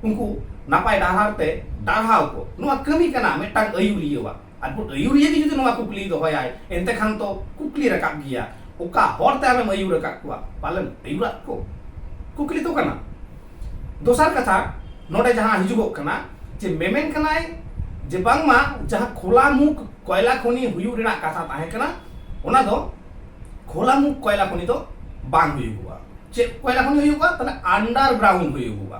ᱩᱱᱠᱩ ᱱᱟᱯᱟᱭ ᱰᱟᱦᱟᱨ ᱛᱮ ᱰᱟᱨᱦᱟᱣ ᱠᱚ ᱱᱚᱣᱟ ᱠᱟᱹᱢᱤ ᱠᱟᱱᱟ ᱢᱤᱫᱴᱟᱝ ᱟᱹᱭᱩᱨᱤᱭᱟᱹᱣᱟᱜ ᱟᱨ ᱢᱤᱫ ᱟᱹᱭᱩᱨᱤᱭᱟᱹ ᱜᱮ ᱡᱩᱫᱤ ᱱᱚᱣᱟ ᱠᱩᱠᱞᱤ ᱫᱚᱦᱚᱭᱟᱭ ᱮᱱᱛᱮ ᱠᱷᱟᱱ ᱛᱚ ᱠᱩᱠᱞᱤ ᱨᱟᱠᱟᱵ ᱜᱮᱭᱟ ᱚᱠᱟ ᱦᱚᱨᱛᱮ ᱟᱢᱮᱢ ᱟᱹᱭᱩᱨ ᱟᱠᱟᱫ ᱠᱚᱣᱟ ᱯᱟᱞᱮᱱ ᱟᱹᱭᱩᱨᱟᱜ ᱠᱚ ᱠᱩᱠᱞᱤ ᱫᱚ ᱠᱟᱱᱟ ᱫᱚᱥᱟᱨ ᱠᱟᱛᱷᱟ ᱱᱚᱰᱮ ᱡᱟᱦᱟᱸ ᱦᱤᱡᱩᱜᱚᱜ ᱠᱟᱱᱟ ᱡᱮ ᱢᱮᱢᱮᱱ ᱠᱟᱱᱟᱭ ᱡᱮ ᱵᱟᱝᱢᱟ ᱡᱟᱦᱟᱸ ᱠᱷᱳᱞᱟ ᱢᱩᱠ ᱠᱚᱭᱞᱟ ᱠᱷᱚᱱᱤ ᱦᱩᱭᱩᱜ ᱨᱮᱱᱟᱜ ᱠᱟᱛᱷᱟ ᱛᱟᱦᱮᱸ ᱠᱟᱱᱟ ᱚᱱᱟ ᱫᱚ ᱠᱷᱳᱞᱟ ᱢᱩᱠ ᱠᱚᱭᱞᱟ ᱠᱷᱚᱱᱤ ᱫᱚ ᱵᱟᱝ ᱦᱩᱭᱩᱜᱚᱜᱼᱟ ᱪᱮᱫ ᱠᱚᱭᱞᱟ ᱠᱷᱚᱱᱤ ᱦᱩᱭᱩᱜᱚᱜᱼᱟ ᱛᱟᱦᱞᱮ ᱟᱱᱰᱟᱨᱜᱨᱟᱣᱩᱱᱰ ᱦᱩᱭᱩᱜᱚᱜᱼᱟ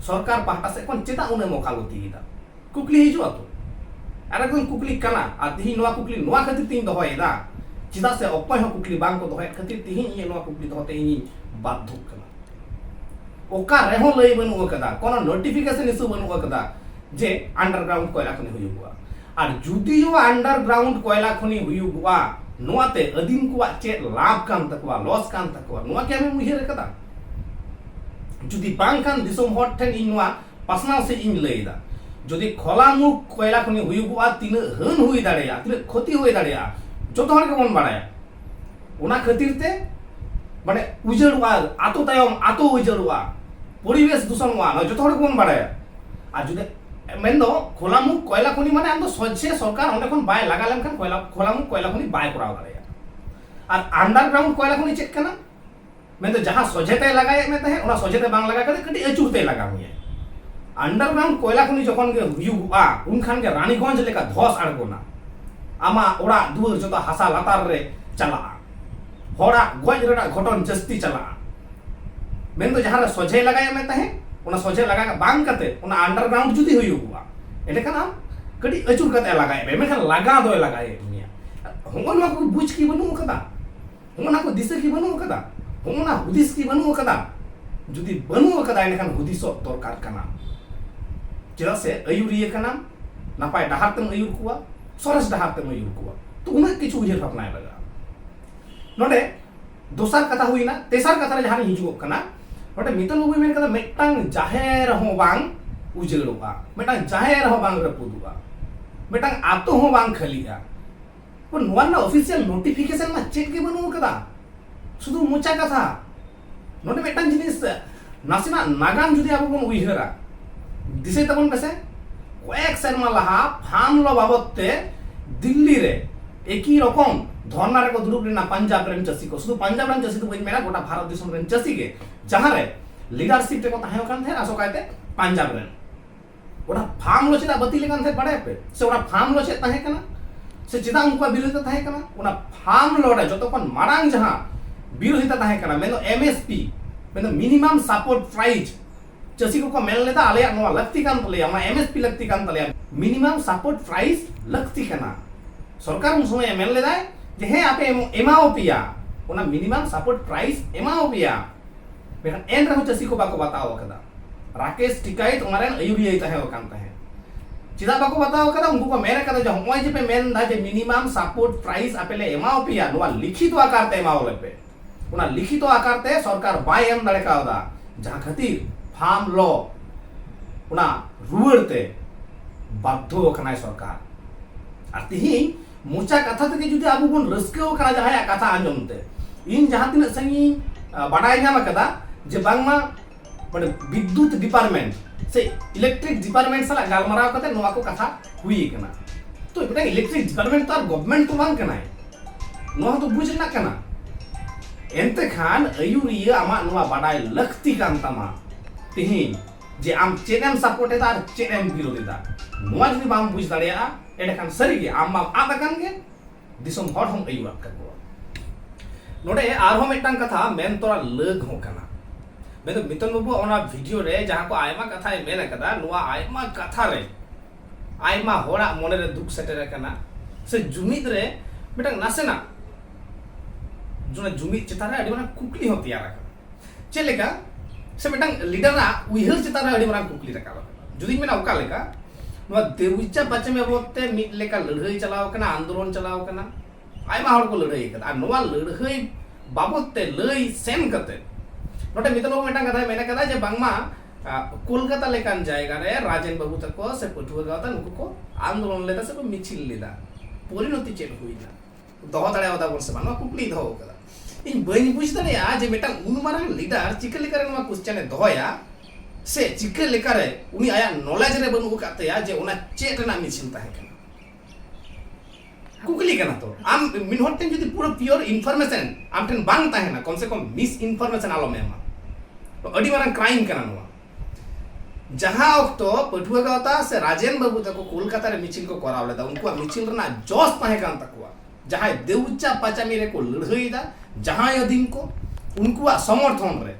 ᱥᱚᱨᱠᱟᱨ ᱯᱟᱦᱴᱟ ᱥᱮᱫ ᱠᱷᱚᱱ ᱪᱮᱫᱟᱜ ᱩᱱᱟᱹᱜ ᱢᱚᱠᱟᱞᱚᱛᱤ ᱮᱫᱟ ᱠᱩᱠᱞᱤ ᱦᱤᱡᱩᱜᱼᱟ ᱛᱚ ᱟᱨ ᱮᱠᱫᱚᱢ ᱠᱩᱠᱞᱤ ᱠᱟᱱᱟ ᱟᱨ ᱛᱤᱦᱤᱧ ᱱᱚᱣᱟ ᱠᱩᱠᱞᱤ ᱱᱚᱣᱟ ᱠᱷᱟᱹᱛᱤᱨ ᱛᱤᱧ ᱫᱚᱦᱚᱭᱮᱫᱟ ᱪᱮᱫᱟᱜ ᱥᱮ ᱚᱠᱚᱭ ᱦᱚᱸ ᱠᱩᱠᱞᱤ ᱵᱟᱝ ᱠᱚ ᱫᱚᱦᱚᱭᱮᱫ ᱠᱷᱟᱹᱛᱤᱨ ᱛᱤᱦᱤᱧ ᱤᱧᱟᱹᱜ ᱱᱚᱣᱟ ᱠᱩᱠᱞᱤ ᱫᱚᱦᱚᱛᱮ ᱤᱧᱤᱧ ᱵᱟᱫᱽᱫᱷᱚᱜ ᱠᱟᱱᱟ ᱚᱠᱟ ᱨᱮᱦᱚᱸ ᱞᱟᱹᱭ ᱵᱟᱹᱱᱩᱜ ᱟᱠᱟᱫᱟ ᱠᱳᱱᱳ ᱱᱳᱴᱤᱯᱷᱤᱠᱮᱥᱚᱱ ᱤᱥᱩ ᱵᱟᱹᱱᱩᱜ ᱟᱠᱟᱫᱟ ᱡᱮ ᱟᱱᱰᱟᱨᱜᱨᱟᱣᱩᱱᱰ ᱠᱚᱭᱞᱟ ᱠᱷᱚᱱᱤ ᱦᱩᱭᱩᱜᱚᱜᱼᱟ ᱟᱨ ᱡᱩᱫᱤᱭᱳ ᱟᱱᱰᱟᱨᱜᱨᱟᱣᱩᱱᱰ ᱠᱚᱭᱞᱟ ᱠᱷᱚᱱᱤ ᱦᱩᱭᱩᱜᱚᱜᱼᱟ, ᱱᱚᱣᱟ ᱛᱮ ᱟᱹᱫᱤᱢ ᱠᱚᱣᱟᱜ ᱪᱮᱫ ᱞᱟᱵᱷ ᱠᱟᱱ ᱛᱟᱠᱚᱣᱟ, ᱞᱚᱥ ᱠᱟᱱ ᱛᱟᱠᱚᱣᱟ, ᱱᱚᱣᱟ ᱠᱤ ᱟᱢᱮᱢ ᱩᱭᱦᱟᱹᱨ ᱟᱠᱟᱫᱟ? ᱡᱩᱫᱤ ᱵᱟᱝ ᱠᱷᱟᱱ ᱫᱤᱥᱚᱢ ᱦᱚᱲ ᱴᱷᱮᱱ ᱤᱧ ᱱᱚᱣᱟ ᱯᱟᱥᱱᱟᱣ ᱥᱮᱡ ᱤᱧ ᱞᱟᱹᱭ ᱮᱫᱟ᱾ ᱡᱩᱫᱤ ᱠᱷᱚᱞᱟ ᱢᱩᱠᱷ ᱠᱚᱭᱞᱟ ᱠᱷᱚᱱᱤ ᱦᱩᱭᱩᱜᱚᱜᱼᱟ, ᱛᱤᱱᱟᱹᱜ ᱦᱟᱹᱱ ᱦᱩᱭ ᱫᱟᱲᱮᱭᱟᱜᱼᱟ, ᱛᱤᱱᱟᱹᱜ ᱠᱷᱚᱛᱤ ᱦᱩᱭ ᱫᱟᱲᱮᱭᱟᱜᱼᱟ, ᱡᱚᱛᱚ ᱦᱚᱲ ᱜᱮᱵᱚᱱ ᱵᱟᱲᱟᱭᱟ᱾ ᱚᱱᱟ ᱠᱷᱟᱹᱛᱤᱨ ᱛᱮ ᱢᱟᱱᱮ ᱩᱡᱟᱹᱲᱚᱜᱼᱟ, ᱟᱛᱳ ᱛᱟᱭᱚᱢ ᱟᱛᱳ ᱩᱡᱟᱹᱲᱚᱜᱼᱟ, ᱯᱚᱨᱤᱵᱮᱥ ᱫᱩᱥᱚᱱᱚᱜᱼᱟ, ᱱᱚᱣᱟ ᱡᱚᱛᱚ ᱦᱚᱲ ᱜᱮᱵᱚᱱ ᱵᱟᱲᱟᱭᱟ᱾ ᱟᱨ ᱡᱩᱫᱤ ᱢᱮᱱᱫᱚ ᱠᱷᱚᱞᱟᱢᱩᱠ ᱠᱚᱭᱞᱟ ᱠᱷᱚᱱᱤ ᱢᱟᱱᱮ ᱟᱢᱫᱚ ᱥᱚᱡᱷᱮ ᱥᱚᱨᱠᱟᱨ ᱚᱸᱰᱮ ᱠᱷᱚᱱ ᱵᱟᱭ ᱞᱟᱜᱟ ᱞᱮᱱᱠᱷᱟᱱ ᱠᱚᱭᱞᱟ ᱠᱷᱚᱞᱟᱢᱩᱠ ᱠᱚᱭᱞᱟ ᱠᱷᱚᱱᱤ ᱵᱟᱭ ᱠᱚᱨᱟᱣ ᱫᱟᱲᱮᱭᱟᱜᱼᱟ ᱟᱨ ᱟᱱᱰᱟᱨᱜᱨᱟᱣᱩᱱᱰ ᱠᱚᱭᱞᱟ ᱠᱷᱚᱱᱤ ᱪᱮᱫ ᱠᱟᱱᱟ ᱢᱮᱱᱫᱚ ᱡᱟᱦᱟᱸ ᱥᱚᱡᱷᱮ ᱛᱮ ᱞᱟᱜᱟᱭᱮᱫ ᱢᱮ ᱛᱟᱦᱮᱸᱫ ᱚᱱᱟ ᱥᱚᱡᱷᱮ ᱛᱮ ᱵᱟᱝ ᱞᱟᱜᱟ ᱠᱟᱛᱮ ᱠᱟᱹᱴᱤᱡ ᱟᱹᱪᱩᱨ ᱛᱮ ᱞᱟᱜᱟ ᱢᱮᱭᱟ ᱟᱱᱰᱟᱨᱜᱨᱟᱣᱩᱱᱰ ᱠᱚᱭᱞᱟ ᱠᱷᱚᱱᱤ ᱡᱚᱠᱷᱚᱱ ᱜᱮ ᱦᱩᱭᱩᱜᱼᱟ ᱩᱱᱠᱷᱟᱱ ᱜᱮ ᱨᱟᱱᱤᱜᱚᱸᱡᱽ ᱞᱮᱠᱟ ᱫᱷᱚᱥ ᱟᱬᱜᱚᱱᱟ ᱟᱢᱟᱜ ᱚᱲᱟᱜ ᱫᱩᱣᱟᱹᱨ ᱡᱚᱛᱚ ᱦᱟᱥᱟ ᱞᱟᱛᱟᱨ ᱨᱮ ᱪᱟᱞᱟᱜᱼᱟ ᱦᱚᱲᱟᱜ ᱜᱚᱡ ᱨᱮᱱᱟᱜ ᱜᱷᱚᱴᱚᱱ ᱡᱟᱹᱥᱛᱤ ᱪᱟᱞᱟᱜᱼᱟ ᱢᱮᱱ ᱫᱚ ᱡᱟᱦᱟᱸ ᱨᱮ ᱥᱚᱡᱷᱮ ᱞᱟᱜᱟᱭ ᱢᱮ ᱛᱟᱦᱮᱸ ᱚᱱᱟ ᱥᱚᱡᱷᱮ ᱞᱟᱜᱟ ᱵᱟᱝ ᱠᱟᱛᱮ ᱚᱱᱟ ᱟᱱᱰᱟᱨᱜᱨᱟᱣᱩᱱᱰ ᱡᱩᱫᱤ ᱦᱩᱭᱩᱜᱼᱟ ᱮᱸᱰᱮᱠᱷᱟᱱ ᱟᱢ ᱠᱟᱹᱴᱤᱡ ᱟᱹᱪᱩᱨ ᱠᱟᱛᱮ ᱞᱟᱜᱟᱭ ᱢᱮ ᱢᱮᱱᱠᱷᱟᱱ ᱞᱟᱜᱟ ᱫᱚᱭ ᱞᱟᱜᱟᱭᱮᱫ ᱢᱮᱭᱟ ᱦᱚᱸᱜᱼᱚ ᱱᱚᱣᱟ ᱠᱚ ᱵᱩᱡᱽ ᱠᱤ ᱵᱟᱹᱱᱩᱜ ᱟᱠᱟᱫᱟ ᱦᱚᱸᱜᱼᱚ ᱱᱚᱣᱟ ᱠᱚ ᱫᱤᱥᱟᱹ ᱠᱤ ᱵᱟᱹᱱᱩᱜ ᱟᱠᱟᱫᱟ ᱦᱚᱸᱜᱼᱚ ᱱᱚᱣᱟ ᱦᱩᱫᱤᱥ ᱠᱤ ᱵᱟᱹᱱᱩᱜ ᱟᱠᱟᱫᱟ ᱡᱩᱫᱤ ᱵᱟᱹᱱᱩᱜ ᱟᱠᱟᱫᱟ ᱮᱸᱰᱮᱠᱷᱟᱱ ᱦᱩᱫᱤᱥᱚᱜ ᱫᱚᱨᱠᱟᱨ ᱠᱟᱱᱟ ᱪᱮᱫᱟᱜ ᱥᱮ ᱟᱹᱭᱩᱨᱤᱭᱟᱹ ᱠᱟᱱᱟᱢ ᱱᱟᱯᱟᱭ ᱰᱟᱦᱟᱨ ᱛᱮᱢ ᱟᱹᱭᱩᱨ ᱠᱚᱣᱟ ᱥᱚᱨᱮᱥ ᱰᱟᱦᱟᱨ ᱛᱮᱢ ᱟᱹᱭᱩᱨ ᱠᱚᱣᱟ ᱛᱚ ᱩᱱᱟᱹᱜ ᱠᱤᱪᱷᱩ ᱩᱭᱦᱟᱹᱨ ᱵᱷᱟᱵᱽᱱᱟᱭ ᱞᱟᱜᱟᱜᱼᱟ ᱱᱚᱰᱮ ᱫᱚᱥᱟᱨ ᱠᱟᱛᱷᱟ ᱦᱩᱭᱱᱟ ᱛᱮᱥᱟᱨ ᱠᱟᱛᱷᱟ ᱨᱮ ᱡᱟᱦᱟᱸ ᱦᱤᱡᱩᱜ ᱠᱟᱱᱟ ᱱᱚᱰᱮ ᱢᱤᱛᱚᱱ ᱵᱟᱹᱵᱩᱭ ᱢᱮᱱ ᱠᱟᱫᱟ ᱢᱤᱫᱴᱟᱝ ᱡᱟᱦᱮᱨ ᱦᱚᱸ ᱵᱟᱝ ᱩᱡᱟᱹᱲᱚᱜᱼᱟ ᱢᱤᱫᱴᱟᱝ ᱡᱟᱦᱮᱨ ᱦᱚᱸ ᱵᱟᱝ ᱨᱟᱹᱯᱩᱫᱚᱜᱼᱟ ᱢᱤᱫᱴᱟᱝ ᱟᱛᱳ ᱦᱚᱸ ᱵᱟᱝ ᱠᱷᱟᱹᱞᱤᱜᱼᱟ ᱱᱚᱣᱟ ᱨᱮᱱᱟᱜ ᱚᱯᱷᱤᱥᱤᱭᱟᱞ ᱱᱳᱴᱤᱯᱷᱤᱠᱮᱥᱚᱱ ᱢᱟ ᱪᱮᱫ ᱜᱮ ᱵᱟᱹᱱᱩᱜ ᱠᱟᱫᱟ ᱥᱩᱫᱷᱩ ᱢᱚᱪᱟ ᱠᱟᱛᱷᱟ ᱱᱚᱰᱮ ᱢᱤᱫᱴᱟᱝ ᱡᱤᱱᱤᱥ ᱱᱟᱥᱮᱱᱟᱜ ᱱᱟᱜᱟᱢ ᱡᱩᱫᱤ ᱟᱵᱚ ᱵᱚᱱ ᱩᱭᱦᱟᱹᱨᱟ ᱫᱤᱥᱟᱹᱭ ᱛᱟᱵᱚᱱ ᱯᱮᱥᱮ ᱠᱚᱭᱮᱠ ᱥᱮᱨᱢᱟ ᱞᱟᱦᱟ ᱯᱷᱟᱨᱢ ᱞᱚ ᱵᱟᱵᱚᱫ ᱛᱮ ᱫᱤᱞᱞᱤ ᱨᱮ ᱮᱠᱤ ᱨᱚᱠᱚᱢ ᱫᱷᱚᱨᱱᱟ ᱨᱮᱠᱚ ᱫᱩᱲᱩᱵ ᱞᱮᱱᱟ ᱯᱟᱧᱡᱟᱵ ᱨᱮᱱ ᱪᱟᱹᱥᱤ ᱠᱚ ᱥᱩᱫᱷᱩ ᱯᱟᱧᱡᱟᱵ ᱨᱮᱱ ᱪᱟᱹᱥᱤ ᱫᱚ ᱵᱟᱹᱧ ᱢᱮᱱᱟ ᱜᱚᱴᱟ ᱵᱷᱟᱨᱚᱛ ᱫᱤᱥᱚᱢ ᱨᱮᱱ ᱪᱟᱹᱥᱤ ᱜᱮ ᱡᱟᱦᱟᱸ ᱨᱮ ᱞᱤᱰᱟᱨᱥᱤᱯ ᱨᱮᱠᱚ ᱛᱟᱦᱮᱸ ᱠᱟᱱ ᱛᱟᱦᱮᱸᱫ ᱟᱥᱚᱠᱟᱭᱛᱮ ᱯᱟᱧᱡᱟᱵ ᱨᱮᱱ ᱚᱱᱟ ᱯᱷᱟᱨᱢ ᱞᱚ ᱪᱮᱫᱟᱜ ᱵᱟᱹᱛᱤᱞ ᱟᱠᱟᱱ ᱛᱟᱦᱮᱸᱫ ᱵᱟᱲᱟᱭ ᱯᱮ ᱥᱮ ᱚᱱᱟ ᱯᱷᱟᱨᱢ ᱞᱚ ᱪᱮᱫ ᱛᱟᱦᱮᱸ ᱠᱟᱱᱟ ᱥᱮ ᱪᱮᱫᱟᱜ ᱩᱱᱠᱩᱣᱟᱜ ᱵᱤᱨᱳᱫᱷᱤᱛᱟ ᱛᱟᱦᱮᱸ ᱠᱟᱱᱟ ᱚᱱᱟ ᱯᱷᱟᱨᱢ ᱞᱚ ᱨᱮ ᱡᱚᱛᱚ ᱠᱷᱚᱱ ᱢᱟᱲᱟᱝ ᱡᱟᱦᱟᱸ ᱵᱤᱨᱳᱫᱷᱤᱛᱟ ᱛᱟᱦᱮᱸ ᱠᱟᱱᱟ ᱢᱮᱱᱫᱚ ᱮᱢ ᱮᱥ ᱯᱤ ᱢᱮᱱᱫᱚ ᱢᱤᱱᱤᱢᱟᱢ ᱥᱟᱯᱳᱨᱴ ᱯᱨᱟᱭᱤᱡᱽ ᱪᱟᱹᱥᱤ ᱠᱚᱠᱚ ᱢᱮᱱ ᱞᱮᱫᱟ ᱟᱞᱮᱭᱟᱜ ᱱᱚᱣᱟ ᱞᱟᱹᱠᱛᱤ ᱠᱟᱱ ᱛᱟᱞᱮᱭᱟ ᱚᱱᱟ ᱮᱢ ᱮᱥ ᱯᱤ ᱞᱟᱹᱠᱛᱤ ᱠᱟᱱ ᱛᱟᱞᱮᱭᱟ ᱢᱤᱱᱤᱢᱟᱢ ᱥᱟᱯᱳᱨᱴ ᱯᱨᱟᱭᱤᱡᱽ ᱞᱟᱹᱠᱛᱤ ᱠᱟᱱᱟ ᱥᱚᱨᱠᱟᱨ ᱩᱱ ᱥᱚᱢᱚᱭ ᱢᱮᱱ ᱞᱮᱫᱟᱭ ᱡᱮ ᱦᱮᱸ ᱟᱯᱮ ᱮᱢᱟᱣ ᱯᱮᱭᱟ ᱚᱱᱟ ᱢᱤᱱᱤᱢᱟᱢ ᱥᱟᱯᱳᱨᱴ ᱯᱨᱟᱭᱤᱡᱽ ᱮᱢᱟᱣ ᱯᱮᱭᱟ ᱢᱮᱱᱠᱷᱟᱱ ᱮᱱ ᱨᱮᱦᱚᱸ ᱪᱟᱹᱥᱤ ᱠᱚ ᱵᱟᱠᱚ ᱵᱟᱛᱟᱣ ᱟᱠᱟᱫᱟ ᱨᱟᱠᱮᱥ ᱴᱤᱠᱟᱭᱤᱛ ᱚᱱᱟ ᱨᱮᱱ ᱟᱹᱭᱩᱨᱤᱭᱟᱹᱭ ᱛᱟᱦᱮᱸ ᱟᱠᱟᱱ ᱛᱟᱦᱮᱸᱫ ᱪᱮᱫᱟᱜ ᱵᱟᱠᱚ ᱵᱟᱛᱟᱣ ᱟᱠᱟᱫᱟ ᱩᱱᱠᱩ ᱠᱚ ᱢᱮᱱ ᱟᱠᱟᱫᱟ ᱡᱮ ᱦᱚᱸᱜᱼᱚᱭ ᱡᱮ ᱯᱮ ᱢᱮᱱ ᱮᱫᱟ ᱡᱮ ᱢᱤᱱᱤᱢᱟᱢ ᱥᱟᱯᱳᱨᱴ ᱯᱨᱟᱭᱤᱥ ᱟᱯᱮ ᱞᱮ ᱮᱢᱟᱣ ᱯᱮᱭᱟ ᱱᱚᱣᱟ ᱞᱤᱠᱷᱤᱛᱚ ᱟᱠᱟᱨ ᱛᱮ ᱮᱢᱟᱣ ᱞᱮᱯᱮ ᱚᱱᱟ ᱞᱤᱠᱷᱤᱛᱚ ᱟᱠᱟᱨ ᱛᱮ ᱥᱚᱨᱠᱟᱨ ᱵᱟᱭ ᱮᱢ ᱫᱟᱲᱮ ᱠᱟᱣᱫᱟ ᱡᱟᱦᱟᱸ ᱠᱷᱟᱹᱛᱤᱨ ᱯᱷᱟᱨᱢ ᱞᱚ ᱚᱱᱟ ᱨᱩᱣᱟᱹᱲ ᱛᱮ ᱵᱟᱫᱽᱫᱷᱚ ᱟᱠᱟᱱᱟᱭ ᱥᱚᱨᱠᱟᱨ ᱟᱨ ᱛᱤᱦᱤᱧ ᱢᱚᱪᱟ ᱠᱟᱛᱷᱟ ᱛᱮᱜᱮ ᱡᱩᱫᱤ ᱟᱵᱚ ᱵᱚᱱ ᱨᱟᱹᱥᱠᱟᱹ ᱟᱠᱟᱱᱟ ᱡᱟᱦᱟᱸᱭᱟᱜ ᱠᱟᱛᱷᱟ ᱟᱸᱡᱚᱢ ᱛᱮ ᱤᱧ ᱡᱟᱦᱟᱸ ᱛᱤᱱᱟᱹᱜ ᱥᱟᱺᱜᱤᱧ ᱵᱟᱰᱟᱭ ᱧᱟᱢ ᱟᱠᱟᱫᱟ ᱡᱮ ᱵᱟᱝᱢᱟ ᱢᱟᱱᱮ ᱵᱤᱫᱽᱫᱩᱛ ᱰᱤᱯᱟᱨᱴᱢᱮᱱᱴ ᱥᱮ ᱤᱞᱮᱠᱴᱨᱤᱠ ᱰᱤᱯᱟᱨᱴᱢᱮᱱᱴ ᱥᱟᱞᱟᱜ ᱜᱟᱞᱢᱟᱨᱟᱣ ᱠᱟᱛᱮ ᱱᱚᱣᱟ ᱠᱚ ᱠᱟᱛᱷᱟ ᱦᱩᱭ ᱟᱠᱟᱱᱟ ᱛᱚ ᱢᱤᱫᱴᱟᱝ ᱤᱞᱮᱠᱴᱨᱤᱠ ᱰᱤᱯᱟᱨᱴᱢᱮᱱᱴ ᱛᱚ ᱟᱨ ᱜᱚᱵᱷᱢᱮᱱᱴ ᱛᱚ ᱵᱟᱝ ᱠᱟᱱᱟᱭ ᱱᱚᱣᱟ ᱦᱚᱸᱛᱚ ᱵᱩᱡᱽ ᱨᱮᱱᱟᱜ ᱠᱟᱱᱟ ᱮᱱᱛᱮ ᱠᱷᱟᱱ ᱟᱹᱭᱩᱨᱤᱭᱟᱹ ᱟᱢᱟᱜ ᱱᱚᱣᱟ ᱵᱟᱰᱟᱭ ᱞᱟᱹᱠᱛᱤ ᱠᱟᱱ ᱛᱟᱢᱟ ᱛᱮᱦᱮᱧ ᱡᱮ ᱟᱢ ᱪᱮᱫ ᱮᱢ ᱥᱟᱯᱳᱨᱴ ᱮᱫᱟ ᱟᱨ ᱪᱮᱫ ᱮᱢ ᱵᱤᱨᱳᱫᱷ ᱮᱫᱟ ᱱᱚᱣᱟ ᱡᱩᱫᱤ ᱵᱟᱢ ᱵᱩᱡᱽ ᱫᱟᱲᱮᱭᱟᱜᱼᱟ ᱮᱸᱰᱮᱠᱷᱟᱱ ᱥᱟᱹᱨᱤᱜᱮ ᱟᱢ ᱢᱟᱢ ᱟᱫ ᱟᱠᱟᱱ ᱜᱮ ᱫᱤᱥᱚᱢ ᱦᱚᱲ ᱦᱚᱸᱢ ᱟᱹᱭᱩᱨᱟᱫ ᱠᱟᱠᱚᱣᱟ ᱱᱚᱰᱮ ᱟᱨᱦᱚᱸ ᱢᱤᱫᱴᱟᱝ ᱠᱟᱛᱷᱟ ᱢᱮᱱ ᱛᱚᱨᱟ ᱞᱟᱹᱠ ᱦᱚᱸ ᱠᱟᱱᱟ ᱢᱮᱱᱫᱚ ᱢᱤᱛᱚᱱ ᱵᱟᱹᱵᱩ ᱚᱱᱟ ᱵᱷᱤᱰᱤᱭᱳ ᱨᱮ ᱡᱟᱦᱟᱸ ᱠᱚ ᱟᱭᱢᱟ ᱠᱟᱛᱷᱟᱭ ᱢᱮᱱ ᱟᱠᱟᱫᱟ ᱱᱚᱣᱟ ᱟᱭᱢᱟ ᱠᱟᱛᱷᱟ ᱨᱮ ᱟᱭᱢᱟ ᱦᱚᱲᱟᱜ ᱢᱚᱱᱮ ᱨᱮ ᱫᱩᱠ ᱥᱮᱴᱮᱨ ᱟᱠᱟᱱᱟ ᱥᱮ ᱡᱩᱢᱤᱫ ᱨᱮ ᱢᱤᱫᱴᱟᱝ ᱱᱟᱥᱮᱱᱟᱜ ᱡᱩᱢᱤᱫ ᱪᱮᱛᱟᱱ ᱨᱮ ᱟᱹᱰᱤ ᱢᱟᱨᱟᱝ ᱠᱩᱠᱞᱤ ᱦᱚᱸ ᱛᱮᱭᱟᱨ ᱟᱠᱟᱱᱟ ᱪᱮᱫ ᱞᱮᱠᱟ ᱥᱮ ᱢᱤᱫᱴᱟᱝ ᱞᱤᱰᱟᱨᱟᱜ ᱩᱭᱦᱟᱹᱨ ᱪᱮᱛᱟᱱ ᱨᱮ ᱟᱹᱰᱤ ᱢᱟᱨᱟᱝ ᱠᱩᱠᱞᱤ ᱨᱟᱠᱟᱵ ᱟᱠᱟᱱᱟ ᱡᱩᱫᱤᱧ ᱢᱮᱱᱟ ᱚᱠᱟ ᱞᱮᱠᱟ ᱱᱚᱣᱟ ᱫᱮᱣᱤᱪᱟ ᱯᱟᱪᱮ ᱵᱟᱵᱚᱫ ᱛᱮ ᱢᱤᱫ ᱞᱮᱠᱟ ᱞᱟᱹᱲᱦᱟᱹᱭ ᱪᱟᱞᱟᱣ ᱟᱠᱟᱱᱟ ᱟᱱᱫᱳᱞᱚᱱ ᱪᱟᱞᱟᱣ ᱟᱠᱟᱱᱟ ᱟᱭᱢᱟ ᱦᱚᱲ ᱠᱚ ᱞᱟᱹᱲᱦᱟᱹᱭ ᱟᱠᱟᱫᱟ ᱟᱨ ᱱᱚᱣᱟ ᱞᱟᱹᱲᱦᱟᱹᱭ ᱵᱟᱵᱚᱫ ᱛᱮ ᱞᱟᱹᱭ ᱥᱮᱱ ᱠᱟᱛᱮ ᱱᱚᱰᱮ ᱢᱤᱛᱟᱞ ᱵᱟᱵᱩ ᱢᱤᱫᱴᱟᱝ ᱠᱟᱛᱷᱟᱭ ᱢᱮᱱ ᱟᱠᱟᱫᱟ ᱡᱮ ᱵᱟᱝᱢᱟ ᱠᱳᱞᱠᱟᱛᱟ ᱞᱮᱠᱟᱱ ᱡᱟᱭᱜᱟ ᱨᱮ ᱨᱟᱡᱮᱱ ᱵᱟᱵᱩ ᱛᱟᱠᱚ ᱥᱮ ᱯᱟᱹᱴᱷᱩᱣᱟᱹ ᱜᱟᱶᱛᱟ ᱱᱩᱠᱩ ᱠᱚ ᱟᱱᱫᱳᱞᱚᱱ ᱞᱮᱫᱟ ᱥᱮ ᱠᱚ ᱢᱤᱪᱷᱤᱞ ᱞᱮᱫᱟ ᱯᱚᱨᱤᱱᱚᱛᱤ ᱪᱮᱫ ᱦᱩᱭᱱᱟ ᱫᱚᱦᱚ ᱫᱟᱲᱮᱭᱟᱣ ᱫᱟᱵᱚᱱ ᱥᱮ ᱵᱟᱝ ᱱᱚᱣᱟ ᱠᱩᱠᱞᱤ ᱫᱚᱦᱚ ᱟᱠᱟᱫᱟ ᱤᱧ ᱵᱟᱹᱧ ᱵᱩᱡᱽ ᱫᱟᱲᱮᱭᱟᱜᱼᱟ ᱡᱮ ᱢᱤᱫᱴᱟᱝ ᱩᱱ ᱢᱟᱨᱟᱝ ᱞᱤᱰᱟᱨ ᱪᱤᱠᱟᱹ ᱞᱮᱠᱟᱨᱮ ᱱᱚᱣᱟ ᱠᱚᱥᱪᱮᱱ ᱮ ᱫᱚᱦᱚᱭᱟ ᱥᱮ ᱪᱤᱠᱟᱹ ᱞᱮᱠᱟᱨᱮ ᱩᱱᱤ ᱟᱭᱟᱜ ᱱᱚᱞᱮᱡᱽ ᱨᱮ ᱵᱟᱹᱱᱩᱜ ᱟᱠᱟᱫ ᱛᱟᱭᱟ ᱡᱮ ᱚᱱᱟ ᱪᱮᱫ ᱨᱮᱱᱟᱜ ᱢᱤᱥᱤᱱ ᱛᱟᱦᱮᱸ ᱠᱟᱱᱟ ᱠᱩᱠᱞᱤ ᱠᱟᱱᱟ ᱛᱚ ᱟᱢ ᱢᱤᱫ ᱦᱚᱲ ᱴᱷᱮᱱ ᱡᱩᱫᱤ ᱯᱩᱨᱟᱹ ᱯᱤᱭᱳᱨ ᱤᱱᱯᱷᱚᱨᱢᱮᱥᱚᱱ ᱟᱢ ᱴᱷᱮᱱ ᱵᱟᱝ ᱛᱟᱦᱮᱱᱟ ᱠᱚᱢ ᱥᱮ ᱠᱚᱢ ᱢᱤᱥ ᱤᱱᱯᱷᱚᱨᱢᱮᱥᱚᱱ ᱟᱞᱚᱢ ᱮᱢᱟ ᱟᱹᱰᱤ ᱢᱟᱨᱟᱝ ᱠᱨᱟᱭᱤᱢ ᱠᱟᱱᱟ ᱱᱚᱣᱟ ᱡᱟᱦᱟᱸ ᱚᱠᱛᱚ ᱯᱟᱹᱴᱷᱩᱣᱟᱹ ᱜᱟᱶᱛᱟ ᱥᱮ ᱨᱟᱡᱮᱱ ᱵᱟᱹᱵᱩ ᱛᱟᱠᱚ ᱠᱳᱞᱠᱟᱛᱟ ᱨᱮ ᱢᱤᱪᱷᱤᱞ ᱠᱚ ᱠᱚᱨᱟᱣ ᱞᱮᱫᱟ ᱩᱱᱠᱩᱣᱟᱜ ᱢᱤᱪᱷᱤᱞ ᱨᱮᱱᱟᱜ ᱡᱚᱥ ᱛᱟᱦᱮᱸ ᱠᱟᱱ ᱛᱟᱠᱚᱣᱟ ᱡᱟᱦᱟᱸᱭ ᱫᱮᱣᱪᱟ ᱯᱟᱪᱟᱢᱤ ᱨᱮ ᱠᱚ ᱞᱟᱹᱲᱦᱟᱹᱭᱮᱫᱟ ᱡᱟᱦᱟᱸᱭ ᱟᱹᱫᱤᱢ ᱠᱚ ᱩᱱᱠᱩᱣᱟᱜ ᱥᱚᱢᱚᱨᱛᱷᱚᱱ ᱨᱮ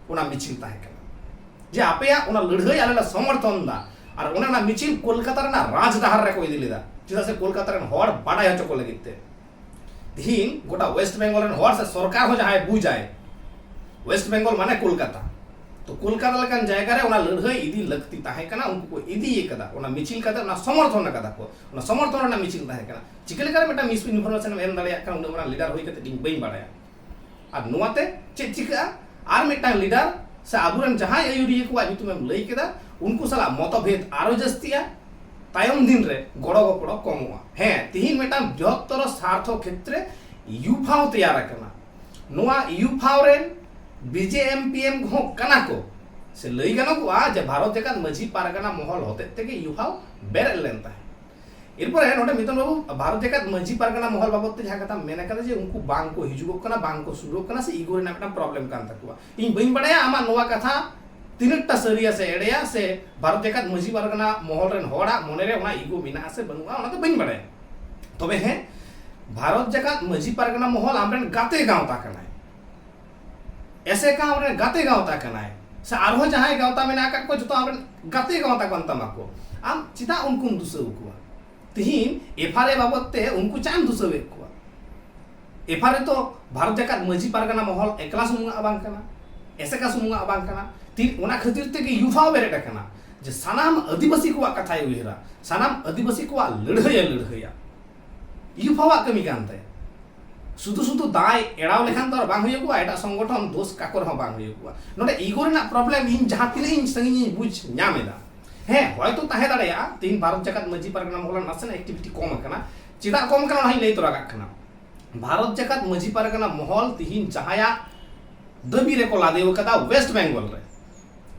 ᱚᱱᱟ ᱢᱤᱪᱷᱤᱞ ᱛᱟᱦᱮᱸ ᱠᱟᱱᱟ ᱡᱮ ᱟᱯᱮᱭᱟᱜ ᱚᱱᱟ ᱞᱟᱹᱲᱦᱟᱹᱭ ᱟᱞᱮ ᱞᱮ ᱥᱚᱢᱚᱨᱛᱷᱚᱱ ᱫᱟ ᱟᱨ ᱚᱱᱟ ᱨᱮᱱᱟᱜ ᱢᱤᱪᱷᱤᱞ ᱠᱳᱞᱠᱟᱛᱟ ᱨᱮᱱᱟᱜ ᱨᱟᱡᱽ ᱰᱟᱦᱟᱨ ᱨᱮ ᱠᱚ ᱤᱫᱤ ᱞᱮᱫᱟ ᱪᱮᱫᱟᱜ ᱥᱮ ᱠᱳᱞᱠᱟᱛᱟ ᱨᱮᱱ ᱦᱚᱲ ᱵᱟᱰᱟᱭ ᱦᱚᱪᱚ ᱠᱚ ᱞᱟᱹᱜᱤᱫ ᱛᱮ ᱛᱤᱦᱤᱧ ᱜᱚᱴᱟ ᱣᱮᱥᱴ ᱵᱮᱝᱜᱚᱞ ᱨᱮᱱ ᱦᱚᱲ ᱥᱮ ᱥᱚᱨᱠᱟᱨ ᱦᱚᱸ ᱡᱟᱦᱟᱸᱭ ᱵᱩᱡᱟᱭ ᱣᱮᱥᱴ ᱵᱮᱝᱜᱚᱞ ᱢᱟᱱᱮ ᱠᱳᱞᱠᱟᱛᱟ ᱛᱚ ᱠᱳᱞᱠᱟᱛᱟ ᱞᱮᱠᱟᱱ ᱡᱟᱭᱜᱟ ᱨᱮ ᱚᱱᱟ ᱞᱟᱹᱲᱦᱟᱹᱭ ᱤᱫᱤ ᱞᱟᱹᱠᱛᱤ ᱛᱟᱦᱮᱸ ᱠᱟᱱᱟ ᱩᱱᱠᱩ ᱠᱚ ᱤᱫᱤᱭ ᱠᱟᱫᱟ ᱚᱱᱟ ᱢᱤᱪᱷᱤᱞ ᱠᱟᱛᱮ ᱚᱱᱟ ᱥᱚᱢᱚᱨᱛᱷᱚᱱ ᱠᱟᱫᱟ ᱠᱚ ᱚᱱᱟ ᱥᱚᱢᱚᱨᱛᱷᱚᱱ ᱨᱮᱱᱟᱜ ᱢᱤᱪᱷᱤᱞ ᱛᱟᱦᱮᱸ ᱠᱟᱱᱟ ᱪᱤᱠᱟᱹ ᱞᱮᱠᱟᱨᱮ ᱢᱤᱫᱴᱟᱝ ᱢᱤᱥ ᱤᱱᱯᱷᱚᱨᱢᱮᱥᱚᱱ ᱮᱢ ᱫᱟᱲᱮᱭᱟᱜ ᱠᱟᱱᱟ ᱩᱱᱟᱹᱜ ᱢᱟᱨᱟᱝ ᱞᱤᱰᱟᱨ ᱦᱩᱭ ᱠᱟᱛᱮ ᱤᱧ ᱵᱟᱹᱧ ᱵᱟᱲᱟᱭᱟ ᱟᱨ ᱱᱚᱣᱟ ᱛᱮ ᱪᱮᱫ ᱪᱤᱠᱟᱹᱜᱼᱟ ᱟᱨ ᱢᱤᱫᱴᱟᱝ ᱞᱤᱰᱟᱨ ᱥᱮ ᱟᱵᱚᱨᱮᱱ ᱡᱟᱦᱟᱸᱭ ᱟᱹᱭᱩᱨᱤᱭᱟᱹ ᱠᱚᱣᱟᱜ ᱧᱩᱛᱩᱢᱮᱢ ᱞᱟᱹᱭ ᱠᱮᱫᱟ ᱩᱱᱠᱩ ᱥᱟᱞᱟᱜ ᱢᱚᱛᱚᱵᱷᱮᱫ ᱟᱨᱚ ᱡᱟᱹᱥᱛᱤᱜᱼᱟ ᱛᱟᱭᱚᱢ ᱫᱤᱱ ᱨᱮ ᱜᱚᱲᱚ ᱜᱚᱯᱚᱲᱚ ᱠᱚᱢᱚᱜᱼᱟ ᱦᱮᱸ ᱛᱤᱦᱤᱧ ᱢᱤᱫᱴᱟᱝ ᱵᱨᱤᱦᱚᱛᱛᱚᱨ ᱥᱟᱨᱛᱷᱚ ᱠᱷᱮᱛᱨᱮ ᱤᱭᱩᱯᱷᱟᱣ ᱛᱮᱭᱟᱨ ᱟᱠᱟᱱᱟ ᱱᱚᱣᱟ ᱤᱭᱩᱯᱷᱟᱣ ᱨᱮᱱ ᱵᱤᱡᱮ ᱮᱢ ᱯᱤ ᱮᱢ ᱦᱚᱸ ᱠᱟᱱᱟ ᱠᱚ ᱥᱮ ᱞᱟᱹᱭ ᱜᱟᱱᱚᱜᱚᱜᱼᱟ ᱡᱮ ᱵᱷᱟᱨᱚᱛ ᱡᱟᱠᱟᱛ ᱢᱟᱹᱡᱷᱤ ᱯᱟᱨᱜᱟᱱᱟ ᱢᱚᱦᱚᱞ ᱦᱚᱛᱮᱡ ᱛᱮᱜᱮ ᱤᱭᱩᱯᱷᱟᱣ ᱵᱮᱨᱮᱫ ᱞᱮᱱ ᱛᱟᱦᱮᱸᱫ ᱮᱨᱯᱚᱨᱮ ᱱᱚᱰᱮ ᱢᱤᱛᱚᱱ ᱵᱟᱵᱩ ᱵᱷᱟᱨᱚᱛ ᱡᱟᱠᱟᱛ ᱢᱟᱹᱡᱷᱤ ᱯᱟᱨᱜᱟᱱᱟ ᱢᱚᱦᱚᱞ ᱵᱟᱵᱚᱛ ᱛᱮ ᱡᱟᱦᱟᱸ ᱠᱟᱛᱷᱟ ᱢᱮᱱ ᱟᱠᱟᱫᱟ ᱡᱮ ᱩᱱᱠᱩ ᱵᱟᱝ ᱠᱚ ᱦᱤᱡᱩᱜᱚᱜ ᱠᱟᱱᱟ ᱵᱟᱝ ᱠᱚ ᱥᱩᱨᱚᱜ ᱠᱟᱱᱟ ᱥᱮ ᱤᱜᱳ ᱨᱮᱱᱟᱜ ᱢᱤᱫᱴᱟᱝ ᱯᱨᱚᱵᱞᱮᱢ ᱠᱟᱱ ᱛᱟᱠᱚᱣᱟ ᱤᱧ ᱵᱟᱹᱧ ᱵᱟᱲᱟᱭᱟ ᱟᱢᱟᱜ ᱱᱚᱣᱟ ᱠᱟᱛᱷᱟ ᱛᱤᱱᱟᱹᱜ ᱴᱟ ᱥᱟᱹᱨᱤᱭᱟ ᱥᱮ ᱮᱲᱮᱭᱟ ᱥᱮ ᱵᱷᱟᱨᱚᱛ ᱡᱟᱠᱟᱛ ᱢᱟᱹᱡᱷᱤ ᱯᱟᱨᱜᱟᱱᱟ ᱢᱚᱦᱚᱞ ᱨᱮᱱ ᱦᱚᱲᱟᱜ ᱢᱚᱱᱮ ᱨᱮ ᱚᱱᱟ ᱤᱜᱳ ᱢᱮᱱᱟᱜᱼᱟ ᱥᱮ ᱵᱟᱹᱱᱩᱜᱼᱟ ᱚᱱᱟ ᱫᱚ ᱵᱟᱹᱧ ᱵᱟᱲᱟᱭᱟ ᱛᱚᱵᱮ ᱦᱮᱸ ᱵᱷᱟᱨᱚᱛ ᱡᱟᱠᱟᱛ ᱢᱟᱹᱡᱷᱤ ᱯᱟᱨᱜᱟᱱᱟ ᱢᱚᱦᱚᱞ ᱟᱢᱨᱮᱱ ᱜᱟᱛᱮ ᱜᱟᱶᱛᱟ ᱠᱟᱱᱟᱭ ᱮᱥᱮᱠᱟ ᱟᱢᱨᱮᱱ ᱜᱟᱛᱮ ᱜᱟᱶᱛᱟ ᱠᱟᱱᱟᱭ ᱥᱮ ᱟᱨᱦᱚᱸ ᱡᱟᱦᱟᱸᱭ ᱜᱟᱶᱛᱟ ᱢᱮᱱᱟᱜ ᱟᱠᱟᱫ ᱠᱚᱣᱟ ᱡᱚᱛᱚ ᱟᱢᱨᱮᱱ ᱜᱟᱛᱮ ᱜᱟᱶᱛᱟ ᱠᱟᱱ ᱛᱟᱢᱟ ᱠᱚ ᱟᱢ ᱪᱮᱫᱟᱜ ᱩᱱᱠᱩᱢ ᱫᱩᱥᱟᱹᱣ ᱠᱚᱣᱟ ᱛᱤᱦᱤᱧ ᱮᱯᱷ ᱟᱨ ᱮ ᱵᱟᱵᱚᱫ ᱛᱮ ᱩᱱᱠᱩ ᱪᱮᱫ ᱮᱢ ᱫᱩᱥᱟᱹᱣᱮᱫ ᱠᱚᱣᱟ ᱮᱯᱷ ᱟᱨ ᱮ ᱛᱚ ᱵᱷᱟᱨᱚᱛ ᱡᱟᱠᱟᱛ ᱢᱟᱹᱡᱷᱤ ᱯᱟᱨᱜᱟᱱᱟ ᱢᱚᱦᱚᱞ ᱮᱠᱞᱟ ᱥᱩᱢᱩᱝᱟᱜ ᱵᱟᱝ ᱠᱟᱱᱟ ᱮᱥᱮᱠᱟ ᱥᱩᱢᱩᱝᱟᱜ ᱵᱟᱝ ᱠᱟᱱᱟ ᱛᱤ ᱚᱱᱟ ᱠᱷᱟᱹᱛᱤᱨ ᱛᱮᱜᱮ ᱭᱩᱛᱷ ᱦᱚᱸ ᱵᱮᱨᱮᱫ ᱟᱠᱟᱱᱟ ᱡᱮ ᱥᱟᱱᱟᱢ ᱟᱹᱫᱤᱵᱟᱹᱥᱤ ᱠᱚᱣᱟᱜ ᱠᱟᱛᱷᱟᱭ ᱩᱭᱦᱟᱹᱨᱟ ᱥᱟᱱᱟᱢ ᱟᱹᱫᱤᱵᱟᱹᱥᱤ ᱠᱚᱣᱟᱜ ᱞᱟᱹᱲᱦᱟᱹᱭᱮ ᱞᱟᱹᱲᱦᱟᱹᱭᱟ ᱭᱩᱛᱷ ᱦᱚᱸᱣᱟᱜ ᱠᱟᱹᱢᱤ ᱠᱟᱱ ᱛᱟᱭᱟ ᱥᱩᱫᱷᱩ ᱥᱩᱫᱷᱩ ᱫᱟᱭ ᱮᱲᱟᱣ ᱞᱮᱠᱷᱟᱱ ᱫᱚ ᱵᱟᱝ ᱦᱩᱭᱩᱜ ᱠᱚᱣᱟ ᱮᱴᱟᱜ ᱥᱚᱝᱜᱚᱴᱷᱚᱱ ᱫᱳᱥ ᱠᱟᱠᱚ ᱨᱮᱦᱚᱸ ᱵᱟᱝ ᱦᱩᱭᱩᱜ ᱠᱚᱣᱟ ᱱᱚᱰᱮ ᱤᱜᱳ ᱨᱮᱱᱟᱜ ᱯᱨᱚᱵᱞᱮᱢ ᱤᱧ ᱡᱟᱦᱟᱸ ᱛᱤᱱᱟᱹᱜ ᱤᱧ ᱥᱟᱺᱜᱤᱧ ᱤᱧ ᱵᱩᱡᱽ ᱧᱟᱢ ᱮᱫᱟ ᱦᱮᱸ ᱦᱚᱭᱛᱳ ᱛᱟᱦᱮᱸ ᱫᱟᱲᱮᱭᱟᱜᱼᱟ ᱛᱤᱦᱤᱧ ᱵᱷᱟᱨᱚᱛ ᱡᱟᱠᱟᱛ ᱢᱟᱹᱡᱷᱤ ᱯᱟᱨᱜᱟᱱᱟ ᱢᱚᱦᱚᱞ ᱱᱟᱥᱮᱱᱟᱜ ᱮᱠᱴᱤᱵᱷᱤᱴᱤ ᱠᱚᱢ ᱟᱠᱟᱱᱟ ᱪᱮᱫᱟᱜ ᱠᱚᱢ ᱟᱠᱟᱱᱟ ᱚᱱᱟ ᱦᱚᱸᱧ ᱞᱟᱹᱭ ᱛᱚᱨᱟ ᱠᱟᱜ ᱠᱟᱱᱟ ᱵᱷᱟᱨᱚᱛ ᱡᱟᱠᱟᱛ ᱢᱟᱹᱡᱷᱤ ᱯᱟᱨᱜᱟᱱᱟ ᱢᱚᱦᱚᱞ ᱛᱤᱦᱤᱧ ᱡᱟᱦᱟᱸᱭᱟᱜ ᱫᱟᱹᱵᱤ ᱨᱮᱠᱚ ᱞᱟᱫᱮᱣ ᱟᱠᱟᱫᱟ ᱣᱮᱥᱴ ᱵᱮᱝᱜᱚᱞ ᱨᱮ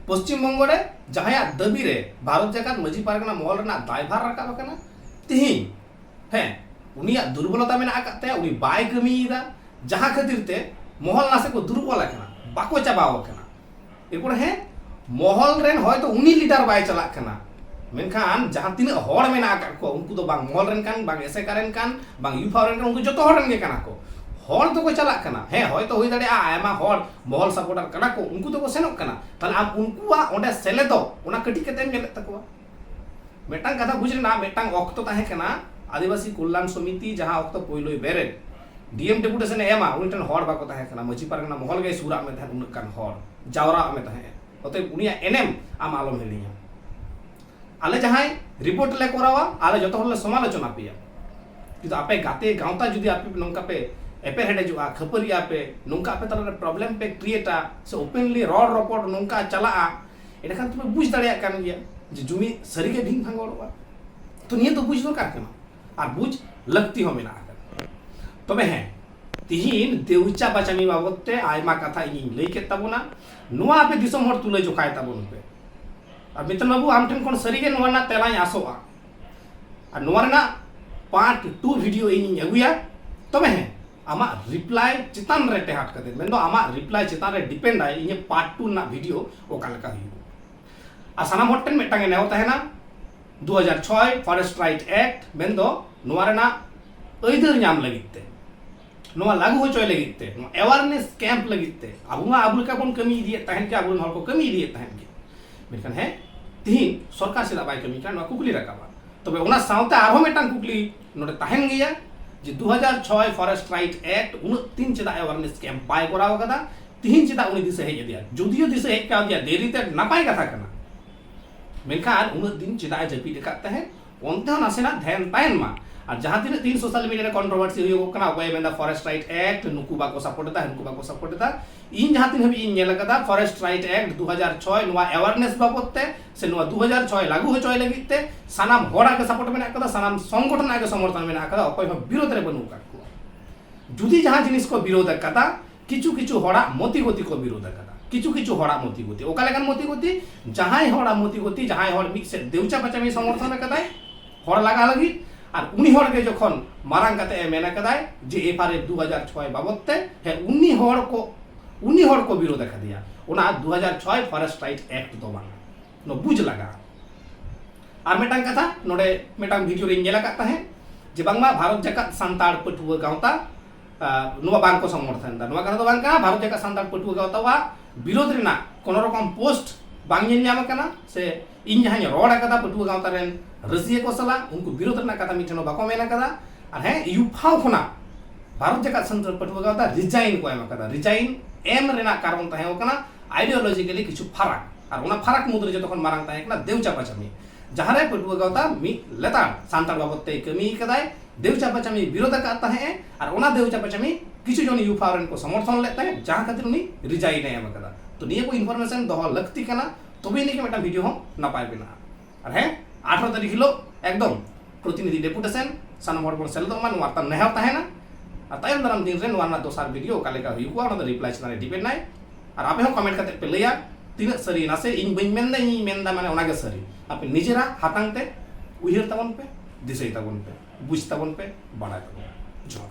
ᱯᱚᱥᱪᱤᱢ ᱵᱚᱝᱜᱚ ᱨᱮ ᱡᱟᱦᱟᱸᱭᱟᱜ ᱫᱟᱹᱵᱤ ᱨᱮ ᱵᱷᱟᱨᱚᱛ ᱡᱟᱠᱟᱛ ᱢᱟᱹᱡᱷᱤ ᱯᱟᱨᱜᱟᱱᱟ ᱢᱚᱦᱚᱞ ᱨᱮᱱᱟᱜ ᱫᱟᱭᱵᱷᱟᱨ ᱨᱟᱠᱟᱵ ᱟᱠᱟᱱᱟ ᱛᱤᱦᱤᱧ ᱦᱮᱸ ᱩᱱᱤᱭᱟᱜ ᱫᱩᱨᱵᱚᱞᱚᱛᱟ ᱢᱮᱱᱟᱜ ᱟᱠᱟᱫ ᱛᱟᱭᱟ ᱩᱱᱤ ᱵᱟᱭ ᱠᱟᱹᱢᱤᱭᱮᱫᱟ ᱡᱟᱦᱟᱸ ᱠᱷᱟᱹᱛᱤᱨ ᱛᱮ ᱢᱚᱦᱚᱞ ᱱᱟᱥᱮ ᱠᱚ ᱫᱩᱨᱩᱵ ᱚᱞ ᱟᱠᱟᱱᱟ ᱵᱟᱠᱚ ᱪᱟᱵᱟᱣ ᱟᱠᱟᱱᱟ ᱮᱨᱯᱚᱨ ᱦᱮᱸ ᱢᱚᱦᱚᱞ ᱨᱮᱱ ᱦᱚᱭᱛᱚ ᱩᱱᱤ ᱞᱤᱰᱟᱨ ᱵᱟᱭ ᱪᱟᱞᱟᱜ ᱠᱟᱱᱟ ᱢᱮᱱᱠᱷᱟᱱ ᱡᱟᱦᱟᱸ ᱛᱤᱱᱟᱹᱜ ᱦᱚᱲ ᱢᱮᱱᱟᱜ ᱟᱠᱟᱫ ᱠᱚ ᱩᱱᱠᱩ ᱫᱚ ᱵᱟᱝ ᱢᱚᱦᱚᱞ ᱨᱮᱱ ᱠᱟᱱ ᱵᱟᱝ ᱮᱥᱮᱠᱟ ᱨᱮᱱ ᱠᱟᱱ ᱵᱟᱝ ᱤᱭᱩᱯᱷᱟ ᱨᱮᱱ ᱠᱟᱱ ᱩᱱᱠᱩ ᱡᱚᱛᱚ ᱦᱚᱲ ᱨᱮᱱ ᱜᱮ ᱠᱟᱱᱟ ᱠᱚ ᱦᱚᱲ ᱫᱚᱠᱚ ᱪᱟᱞᱟᱜ ᱠᱟᱱᱟ ᱦᱮᱸ ᱦᱚᱭᱛᱚ ᱦᱩᱭ ᱫᱟᱲᱮᱭᱟᱜᱼᱟ ᱟᱭᱢᱟ ᱦᱚᱲ ᱢᱚᱦᱚᱞ ᱥᱟᱯᱚᱨᱴᱟᱨ ᱠᱟᱱᱟ ᱠᱚ ᱩᱱᱠᱩ ᱫᱚᱠᱚ ᱥᱮᱱᱚᱜ ᱠᱟᱱᱟ ᱛᱟᱦᱞᱮ ᱟᱢ ᱩᱱᱠᱩᱣᱟᱜ ᱚᱸᱰᱮ ᱥᱮᱞᱮᱫᱚᱜ ᱚᱱᱟ ᱠᱟᱹᱴᱤᱡ ᱠᱟᱛᱮᱢ ᱧᱮᱞᱮᱫ ᱛᱟᱠᱚᱣᱟ ᱢᱤᱫᱴᱟᱝ ᱠᱟᱛᱷᱟ ᱵᱩᱡᱽ ᱨᱮᱱᱟᱜ ᱢᱤᱫᱴᱟᱝ ᱚᱠᱛᱚ ᱛᱟᱦᱮᱸ ᱠᱟᱱᱟ ᱟᱹᱫᱤᱵᱟᱹᱥᱤ ᱠᱚᱞᱞᱟᱱ ᱥᱚᱢᱤᱛᱤ ᱡᱟᱦᱟᱸ ᱚᱠᱛᱚ ᱯᱳᱭᱞᱳᱭ ᱵᱮᱨᱮᱫ ᱰᱤᱮᱢ ᱰᱮᱯᱩᱴᱮᱥᱚᱱ ᱮ ᱮᱢᱟ ᱩᱱᱤ ᱴᱷᱮᱱ ᱦᱚᱲ ᱵᱟᱠᱚ ᱛᱟᱦᱮᱸ ᱠᱟᱱᱟ ᱢᱟᱹᱡᱷᱤ ᱯᱟᱨᱜᱟᱱᱟ ᱢᱚᱦᱚᱞ ᱜᱮᱭ ᱥᱩᱨᱟᱜ ᱢᱮ ᱛᱟᱦᱮᱸᱫ ᱩᱱᱟᱹᱜ ᱜᱟᱱ ᱦᱚᱲ ᱡᱟᱣᱨᱟᱜ ᱢᱮ ᱛᱟᱦᱮᱸᱫ ᱚᱛᱚᱭᱮᱵ ᱩᱱᱤᱭᱟᱜ ᱮᱱᱮᱢ ᱟᱢ ᱟᱞᱚᱢ ᱦᱤᱲᱤᱧᱟ ᱟᱞᱮ ᱡᱟᱦᱟᱸᱭ ᱨᱤᱯᱳᱨᱴ ᱞᱮ ᱠᱚᱨᱟᱣᱟ ᱟᱞᱮ ᱡᱚᱛᱚ ᱦᱚᱲ ᱞᱮ ᱥᱚᱢᱟᱞᱳᱪᱚᱱᱟ ᱯᱮᱭᱟ ᱠᱤᱱᱛᱩ ᱟᱯᱮ ᱜᱟᱛᱮ ᱜᱟᱶᱛᱟ ᱡᱩᱫᱤ ᱟᱯᱮ ᱱᱚᱝᱠᱟ ᱯᱮ ᱮᱯᱮᱨ ᱦᱮᱰᱮᱡᱚᱜᱼᱟ ᱠᱷᱟᱹᱯᱟᱹᱨᱤᱜᱼᱟ ᱯᱮ ᱱᱚᱝᱠᱟ ᱟᱯᱮ ᱛᱟᱞᱟᱨᱮ ᱯᱨᱚᱵᱞᱮᱢ ᱯᱮ ᱠᱨᱤᱭᱮᱴᱟ ᱥᱮ ᱳᱯᱮᱱᱞᱤ ᱨᱚᱲ ᱨᱚᱯᱚᱲ ᱱᱚᱝᱠᱟ ᱪᱟᱞᱟᱜᱼᱟ ᱮᱸᱰᱮᱠᱷᱟᱱ ᱛᱚᱯᱮ ᱵᱩᱡᱽ ᱫᱟᱲᱮᱭᱟᱜ ᱠᱟᱱ ᱜᱮᱭᱟ ᱡᱮ ᱡᱩᱢᱤᱫ ᱥᱟᱹᱨᱤᱜᱮ ᱵᱷᱤᱱ ᱵᱷᱟᱸᱜᱚᱲᱚᱜᱼᱟ ᱛᱚ ᱱᱤᱭᱟᱹ ᱫᱚ ᱵᱩᱡᱽ ᱫᱚᱨᱠᱟᱨ ᱠᱟᱱᱟ ᱟᱨ ᱵᱩᱡᱽ ᱞᱟᱹᱠᱛᱤ ᱦᱚᱸ ᱢᱮᱱᱟᱜ ᱟᱠᱟᱫᱟ ᱛᱚᱵᱮ ᱦᱮᱸ ᱛᱤᱦᱤᱧ ᱫᱮᱣᱪᱟ ᱵᱟᱪᱟᱢᱤ ᱵᱟᱵᱚᱫ ᱛᱮ ᱟᱭᱢᱟ ᱠᱟᱛᱷᱟ ᱤᱧᱤᱧ ᱞᱟᱹᱭ ᱠᱮᱫ ᱛᱟᱵᱚᱱᱟ ᱱᱚᱣᱟ ᱟᱯᱮ ᱫᱤᱥᱚᱢ ᱦᱚᱲ ᱛᱩᱞᱟᱹ ᱡᱚᱠᱷᱟᱭ ᱛᱟᱵᱚᱱ ᱯᱮ ᱟᱨ ᱢᱤᱛᱚᱱ ᱵᱟᱵᱩ ᱟᱢ ᱴᱷᱮᱱ ᱠᱷᱚᱱ ᱥᱟᱹᱨᱤᱜᱮ ᱱᱚᱣᱟ ᱨᱮᱱᱟᱜ ᱛᱮᱞᱟᱧ ᱟᱥᱚᱜᱼᱟ ᱟᱨ ᱱᱚᱣᱟ ᱨᱮᱱᱟᱜ ᱯᱟᱨᱴ ᱴᱩ ᱵᱷᱤᱰᱤᱭᱳ ᱤᱧᱤᱧ ᱟᱹᱜᱩᱭᱟ ᱛᱚᱵᱮ ᱦᱮᱸ ᱟᱢᱟᱜ ᱨᱤᱯᱞᱟᱭ ᱪᱮᱛᱟᱱ ᱨᱮ ᱴᱮᱦᱟᱴ ᱠᱟᱛᱮ ᱢᱮᱱ ᱫᱚ ᱟᱢᱟᱜ ᱨᱤᱯᱞᱟᱭ ᱪᱮᱛᱟᱱ ᱨᱮ ᱰᱤᱯᱮᱱᱰ ᱟᱭ ᱤᱧᱟᱹᱜ ᱯᱟᱨᱴ 2 ᱨᱮᱱᱟᱜ ᱵᱷᱤᱰᱤᱭᱳ ᱚᱠᱟ ᱞᱮᱠᱟ ᱦᱩᱭᱩᱜ ᱟᱨ ᱥᱟᱱᱟᱢ ᱦᱚᱲ ᱴᱷᱮᱱ ᱢᱤᱫᱴᱟᱝ ᱮ ᱱᱮᱣᱛᱟ ᱦᱮᱱᱟ 2006 ᱯᱷᱚᱨᱮᱥᱴ ᱨᱟᱭᱤᱴ ᱮᱠᱴ ᱢᱮᱱ ᱫᱚ ᱱᱚᱣᱟ ᱨᱮᱱᱟᱜ ᱟᱹᱭᱫᱟᱹᱨ ᱧᱟᱢ ᱞᱟᱹᱜᱤᱫ ᱛᱮ ᱱᱚᱣᱟ ᱞᱟᱜᱩ ᱦᱚᱪᱚᱭ ᱞᱟᱹᱜᱤᱫ ᱛᱮ ᱱᱚᱣᱟ ᱮᱣᱟᱨᱱᱮᱥ ᱠᱮᱢᱯ ᱞᱟᱹᱜᱤᱫ ᱛᱮ ᱟᱵᱚ ᱢᱟ ᱟᱵᱚ ᱞᱮᱠᱟ ᱵᱚᱱ ᱠᱟᱹᱢᱤ ᱤᱫᱤᱭᱮᱫ ᱛᱟᱦᱮᱱ ᱜᱮ ᱟᱵᱚ ᱨᱮᱱ ᱦᱚᱲ ᱠᱚ ᱠᱟᱹᱢᱤ ᱤᱫᱤᱭᱮᱫ ᱛᱟᱦᱮᱱ ᱜᱮ ᱢᱮᱱᱠᱷᱟᱱ ᱦᱮᱸ ᱛᱤᱦᱤᱧ ᱥᱚᱨᱠᱟᱨ ᱪᱮᱫᱟᱜ ᱵᱟᱭ ᱠᱟᱹᱢᱤ ᱠᱟᱱᱟ ᱱᱚᱣᱟ ᱠᱩᱠᱞᱤ ᱨᱟᱠᱟᱵᱟ ᱛᱚᱵᱮ ᱚᱱᱟ ᱥᱟᱶᱛᱮ ᱟᱨᱦᱚᱸ ᱢᱤᱫᱴᱟᱝ ᱠᱩᱠᱞᱤ ᱱᱚᱰᱮ ᱛᱟᱦᱮᱱ ᱜᱮᱭᱟ ᱡᱮ ᱫᱩ ᱦᱟᱡᱟᱨ ᱪᱷᱚᱭ ᱯᱷᱚᱨᱮᱥᱴ ᱨᱟᱭᱤᱴ ᱮᱠᱴ ᱩᱱᱟᱹᱜ ᱫᱤᱱ ᱪᱮᱫᱟᱜ ᱮᱣᱟᱨᱱᱮᱥ ᱠᱮᱢᱯ ᱵᱟᱭ ᱠᱚᱨᱟᱣ ᱟᱠᱟᱫᱟ ᱛᱤᱦᱤᱧ ᱪᱮᱫᱟᱜ ᱩᱱᱤ ᱫᱤᱥᱟᱹ ᱦᱮᱡ ᱟᱫᱮᱭᱟ ᱡᱩᱫᱤᱭᱳ ᱫᱤᱥᱟᱹ ᱦᱮᱡ ᱠᱟᱣᱫᱮᱭᱟ ᱫᱮᱨᱤᱛᱮ ᱱᱟᱯᱟᱭ ᱠᱟᱛᱷᱟ ᱠᱟᱱᱟ ᱢᱮᱱᱠᱷᱟᱱ ᱩᱱᱟᱹᱜ ᱫᱤᱱ ᱪᱮᱫᱟᱜ ᱮ ᱡᱟᱹᱯᱤᱫ ᱟᱠᱟᱫ ᱛᱟᱦᱮᱸᱫ ᱚᱱᱛᱮ ᱦᱚᱸ ᱱᱟᱥᱮᱱᱟᱜ ᱫᱷᱮᱭᱟᱱ ᱛᱟᱦᱮᱱ ᱢᱟ ᱟᱨ ᱡᱟᱦᱟᱸ ᱛᱤᱱᱟᱹᱜ ᱛᱤᱦᱤᱧ ᱥᱳᱥᱟᱞ ᱢᱤᱰᱤᱭᱟ ᱨᱮ ᱠᱚᱱᱴᱨᱳᱵᱷᱟᱨᱥᱤ ᱦᱩᱭᱩᱜᱚᱜ ᱠᱟᱱᱟ ᱚᱠᱚᱭᱮ ᱢᱮᱱᱫᱟ ᱯᱷᱚᱨᱮᱥᱴ ᱨᱟᱭᱤᱴ ᱮᱠᱴ ᱱᱩᱠᱩ ᱵᱟᱠᱚ ᱥᱟᱯᱳᱨᱴ ᱮᱫᱟ ᱦᱟᱹᱱᱠᱩ ᱵᱟᱠᱚ ᱥᱟᱯᱳᱨᱴ ᱮᱫᱟ ᱤᱧ ᱡᱟᱦᱟᱸ ᱛᱤᱱ ᱦᱟᱹᱵᱤᱡ ᱤᱧ ᱧᱮᱞ ᱟᱠᱟᱫᱟ ᱯᱷᱚᱨᱮᱥᱴ ᱨᱟᱭᱤᱴ ᱮᱠᱴ ᱫᱩ ᱦᱟᱡᱟᱨ ᱪᱷᱚᱭ ᱱᱚᱣᱟ ᱮᱣᱟᱨᱱᱮᱥ ᱵᱟᱵᱚᱫ ᱛᱮ ᱥᱮ ᱱᱚᱣᱟ ᱫᱩ ᱦᱟᱡᱟᱨ ᱪᱷᱚᱭ ᱞᱟᱜᱩ ᱦᱚᱪᱚᱭ ᱞᱟᱹᱜᱤᱫ ᱛᱮ ᱥᱟᱱᱟᱢ ᱦᱚᱲᱟᱜ ᱜᱮ ᱥᱟᱯᱳᱨᱴ ᱢᱮᱱᱟᱜ ᱟᱠᱟᱫᱟ ᱥᱟᱱᱟᱢ ᱥᱚᱝᱜᱚᱴᱷᱚᱱ ᱟᱜ ᱜᱮ ᱥᱚᱢᱚᱨᱛᱷᱚᱱ ᱢᱮᱱᱟᱜ ᱟᱠᱟᱫᱟ ᱚᱠᱚᱭ ᱦᱚᱸ ᱵᱤᱨᱳᱫᱷ ᱨᱮ ᱵᱟᱹᱱᱩᱜ ᱟᱠᱟᱫ ᱠᱚᱣᱟ ᱡᱩᱫᱤ ᱡᱟᱦᱟᱸ ᱡᱤᱱᱤᱥ ᱠᱚ ᱵᱤᱨᱳᱫᱷ ᱟᱠᱟᱫᱟ ᱠᱤᱪᱷᱩ ᱠᱤᱪᱷᱩ ᱦᱚᱲᱟᱜ ᱢᱚᱛᱤ ᱜᱚᱛᱤ ᱠᱚ ᱵᱤᱨᱳᱫᱷ ᱟᱠᱟᱫᱟ ᱠᱤᱪᱷᱩ ᱠᱤᱪᱷᱩ ᱦᱚᱲᱟᱜ ᱢᱚᱛᱤ ᱜᱚᱛᱤ ᱚᱠᱟ ᱞᱮᱠᱟᱱ ᱢᱚᱛᱤ ᱜᱚᱛᱤ ᱡᱟᱦᱟᱸᱭ ᱦᱚᱲᱟᱜ ᱢᱚᱛᱤ ᱜᱚᱛᱤ ᱡᱟᱦᱟᱸᱭ ᱦᱚᱲ ᱢᱤᱫ ᱥᱮᱫ ᱫᱮᱣᱪᱟ ᱯᱟᱪᱟᱢᱤ ᱥᱚᱢᱚᱨᱛᱷᱚᱱ ᱟᱠᱟᱫᱟᱭ ᱦᱚᱲ ᱞᱟᱜᱟ ᱞᱟᱹᱜᱤᱫ ᱟᱨ ᱩᱱᱤ ᱦᱚᱲ ᱜᱮ ᱡᱚᱠᱷᱚᱱ ᱢᱟᱨᱟᱝ ᱠᱟᱛᱮ ᱮ ᱢᱮᱱ ᱟᱠᱟᱫᱟᱭ ᱡᱮ ᱮᱯᱷ ᱟᱨ ᱮᱯᱷ ᱫᱩ ᱦᱟᱡᱟᱨ ᱪᱷᱚᱭ ᱵᱟᱵᱚᱫ ᱛᱮ ᱦᱮ ᱩᱱᱤ ᱦᱚᱲ ᱠᱚ ᱩᱱᱤ ᱦᱚᱲ ᱠᱚ ᱵᱤᱨᱳᱫ ᱟᱠᱟᱫᱮᱭᱟ ᱚᱱᱟ ᱫᱩ ᱦᱟᱡᱟᱨ ᱪᱷᱚᱭ ᱯᱷᱚᱨᱮᱥᱴ ᱨᱟᱭᱤᱴ ᱮᱠᱴ ᱫᱚ ᱵᱟᱝ ᱱᱚ ᱵᱩᱡᱽ ᱞᱟᱜᱟ ᱟᱨ ᱢᱤᱫᱴᱟᱝ ᱠᱟᱛᱷᱟ ᱱᱚᱰᱮ ᱢᱤᱫᱴᱟᱝ ᱵᱷᱤᱰᱤᱭᱳ ᱨᱤᱧ ᱧᱮᱞ ᱟᱠᱟᱫ ᱛᱟᱦᱮᱸᱫ ᱡᱮ ᱵᱟᱝᱢᱟ ᱵᱷᱟᱨᱚᱛ ᱡᱟᱠᱟᱛ ᱥᱟᱱᱛᱟᱲ ᱯᱟᱹᱴᱷᱩᱣᱟᱹ ᱜᱟᱶᱛᱟ ᱱᱚᱣᱟ ᱵᱟᱝ ᱠᱚ ᱥᱚᱢᱚᱨᱛᱷᱚᱱ ᱮᱫᱟ ᱱᱚᱣᱟ ᱠᱟᱛᱷᱟ ᱫᱚ ᱵᱟᱝ ᱠᱟᱱᱟ ᱵᱷᱟᱨᱚᱛ ᱡᱟᱠᱟᱛ ᱥᱟᱱᱛᱟᱲ ᱯᱟᱹᱴᱷᱩᱣᱟᱹ ᱜᱟᱶᱛᱟᱣᱟᱜ ᱵᱤᱨᱳᱫᱷ ᱨᱮᱱᱟᱜ ᱠᱳᱱᱳ ᱨᱚᱠᱚᱢ ᱯᱳᱥᱴ ᱵᱟᱝ ᱧᱮᱞ ᱧᱟᱢ ᱟᱠᱟᱱᱟ ᱥᱮ ᱤᱧ ᱡᱟᱦᱟᱸᱧ ᱨᱚᱲ ᱟᱠᱟᱫᱟ ᱯᱟᱹᱴᱷᱩᱣᱟᱹ ᱜᱟᱶᱛᱟ ᱨᱮᱱ ᱨᱟᱹᱥᱤᱭᱟᱹ ᱠᱚ ᱥᱟᱞᱟᱜ ᱩᱱᱠᱩ ᱵᱤᱨᱳᱫᱷ ᱨᱮᱱᱟᱜ ᱠᱟᱛᱷᱟ ᱢᱤᱫ ᱴᱷᱮᱱ ᱦᱚᱸ ᱵᱟᱠᱚ ᱢᱮᱱ ᱟᱠᱟᱫᱟ ᱟᱨ ᱦᱮᱸ ᱤᱭᱩᱯᱷᱟᱣ ᱠᱷᱚᱱᱟᱜ ᱵᱷᱟᱨᱚᱛ ᱡᱟᱠᱟᱛ ᱥᱟᱱᱛᱟᱲ ᱯᱟᱹᱴᱷᱩᱣᱟᱹ ᱜᱟᱶᱛᱟ ᱨᱤᱡᱟᱭᱤᱱ ᱠᱚ ᱮᱢ ᱟᱠᱟᱫᱟ ᱨᱤᱡᱟᱭᱤᱱ ᱮᱢ ᱨᱮᱱᱟᱜ ᱠᱟᱨᱚᱱ ᱛᱟᱦᱮᱸ ᱠᱟᱱᱟ ᱟᱭᱰᱤᱭᱳᱞᱚᱡᱤᱠᱮᱞᱤ ᱠᱤᱪᱷᱩ ᱯᱷᱟᱨᱟᱠ ᱟᱨ ᱚᱱᱟ ᱯᱷᱟᱨᱟᱠ ᱢᱩᱫᱽᱨᱮ ᱡᱚᱛᱚ ᱠᱷᱚᱱ ᱢᱟᱨᱟᱝ ᱛᱟᱦᱮᱸ ᱠᱟᱱᱟ ᱫᱮᱣ ᱪᱟᱯᱟᱪᱟᱯᱤ ᱡᱟᱦᱟᱸ ᱨᱮ ᱯᱟᱹᱴᱷᱩᱣᱟᱹ ᱜᱟᱶᱛᱟ ᱢᱤᱫ ᱞᱮᱛᱟᱲ ᱥᱟᱱᱛᱟᱲ ᱵᱟᱵᱚᱫ ᱛᱮᱭ ᱠᱟᱹᱢᱤ ᱟᱠᱟᱫᱟᱭ ᱫᱮᱣᱪᱟᱯᱟᱪᱟᱢᱤᱭ ᱵᱤᱨᱳᱫᱷ ᱟᱠᱟᱫ ᱛᱟᱦᱮᱸᱫ ᱮ ᱟᱨ ᱚᱱᱟ ᱫᱮᱣᱪᱟᱯᱟᱪᱟᱢᱤ ᱠᱤᱪᱷᱩ ᱡᱚᱱ ᱭᱩᱯᱷᱟᱣ ᱨᱮᱱ ᱠᱚ ᱥᱚᱢᱚᱨᱛᱷᱚᱱ ᱞᱮᱫ ᱛᱟᱦᱮᱸᱫ ᱡᱟᱦᱟᱸ ᱠᱷᱟᱹᱛᱤᱨ ᱩᱱᱤ ᱨᱤᱡᱟᱭᱤᱱ ᱮ ᱮᱢ ᱟᱠᱟᱫᱟ ᱛᱚ ᱱᱤᱭᱟᱹ ᱠᱚ ᱤᱱᱯᱷᱚᱨᱢᱮᱥᱚᱱ ᱫᱚᱦᱚ ᱞᱟᱹᱠᱛᱤ ᱠᱟᱱᱟ ᱛᱚᱵᱮ ᱟᱹᱱᱤᱡ ᱜᱮ ᱢᱤᱫᱴᱟᱝ ᱵᱷᱤᱰᱤᱭᱳ ᱦᱚᱸ ᱱᱟᱯᱟᱭ ᱵᱮᱱᱟᱜᱼᱟ ᱟᱨ ᱦᱮᱸ ᱟᱴᱷᱟᱨᱚ ᱛᱟᱹᱨᱤᱠᱷ ᱦᱤᱞᱳᱜ ᱮᱠᱫᱚᱢ ᱯᱨᱚᱛᱤᱱᱤᱫᱷᱤ ᱰᱮᱯᱩᱴᱮᱥᱚᱱ ᱥᱟᱱᱟᱢ ᱦᱚᱲ ᱵᱚᱱ ᱥᱮᱞᱮᱫᱚᱜ ᱢᱟ ᱱᱚᱣᱟ ᱢᱤᱫᱴᱟᱝ ᱱᱮᱦᱚᱨ ᱛᱟᱦᱮᱱᱟ ᱟᱨ ᱛᱟᱭᱚᱢ ᱫᱟᱨᱟᱢ ᱫᱤᱱ ᱨᱮ ᱱᱚᱣᱟ ᱨᱮᱱᱟᱜ ᱫᱚᱥᱟᱨ ᱵᱷᱤᱰᱤᱭᱳ ᱚᱠᱟ ᱞᱮᱠᱟ ᱦᱩᱭᱩᱜᱼᱟ ᱚᱱᱟ ᱫᱚ ᱨᱤᱯᱞᱟᱭ ᱪᱮᱛᱟᱱ ᱨᱮ ᱰᱤᱯᱮᱱᱰ ᱟᱭ ᱟᱨ ᱟᱯᱮ ᱦᱚᱸ ᱠᱚᱢᱮᱱᱴ ᱠᱟᱛᱮ ᱯᱮ ᱞᱟᱹᱭᱟ ᱛᱤᱱᱟᱹᱜ ᱥᱟᱹᱨᱤ ᱱᱟᱥᱮ ᱤᱧ ᱵᱟᱹᱧ ᱢᱮᱱ ᱫᱟ ᱤᱧᱤᱧ ᱢᱮᱱ ᱫᱟ ᱢᱟᱱᱮ ᱚᱱᱟᱜᱮ ᱥᱟᱹᱨᱤ ᱟᱯᱮ ᱱᱤᱡᱮᱨᱟᱜ ᱦᱟᱛᱟᱝ ᱛᱮ ᱩᱭᱦᱟᱹᱨ ᱛᱟᱵᱚᱱ ᱯᱮ ᱫᱤᱥᱟᱹᱭ ᱛᱟᱵᱚᱱ ᱯᱮ ᱵᱩᱡᱽ ᱛᱟᱵᱚᱱ ᱯᱮ ᱵᱟᱲᱟᱭ ᱛᱟᱵᱚᱱ ᱯᱮ ᱡᱚᱦᱟᱨ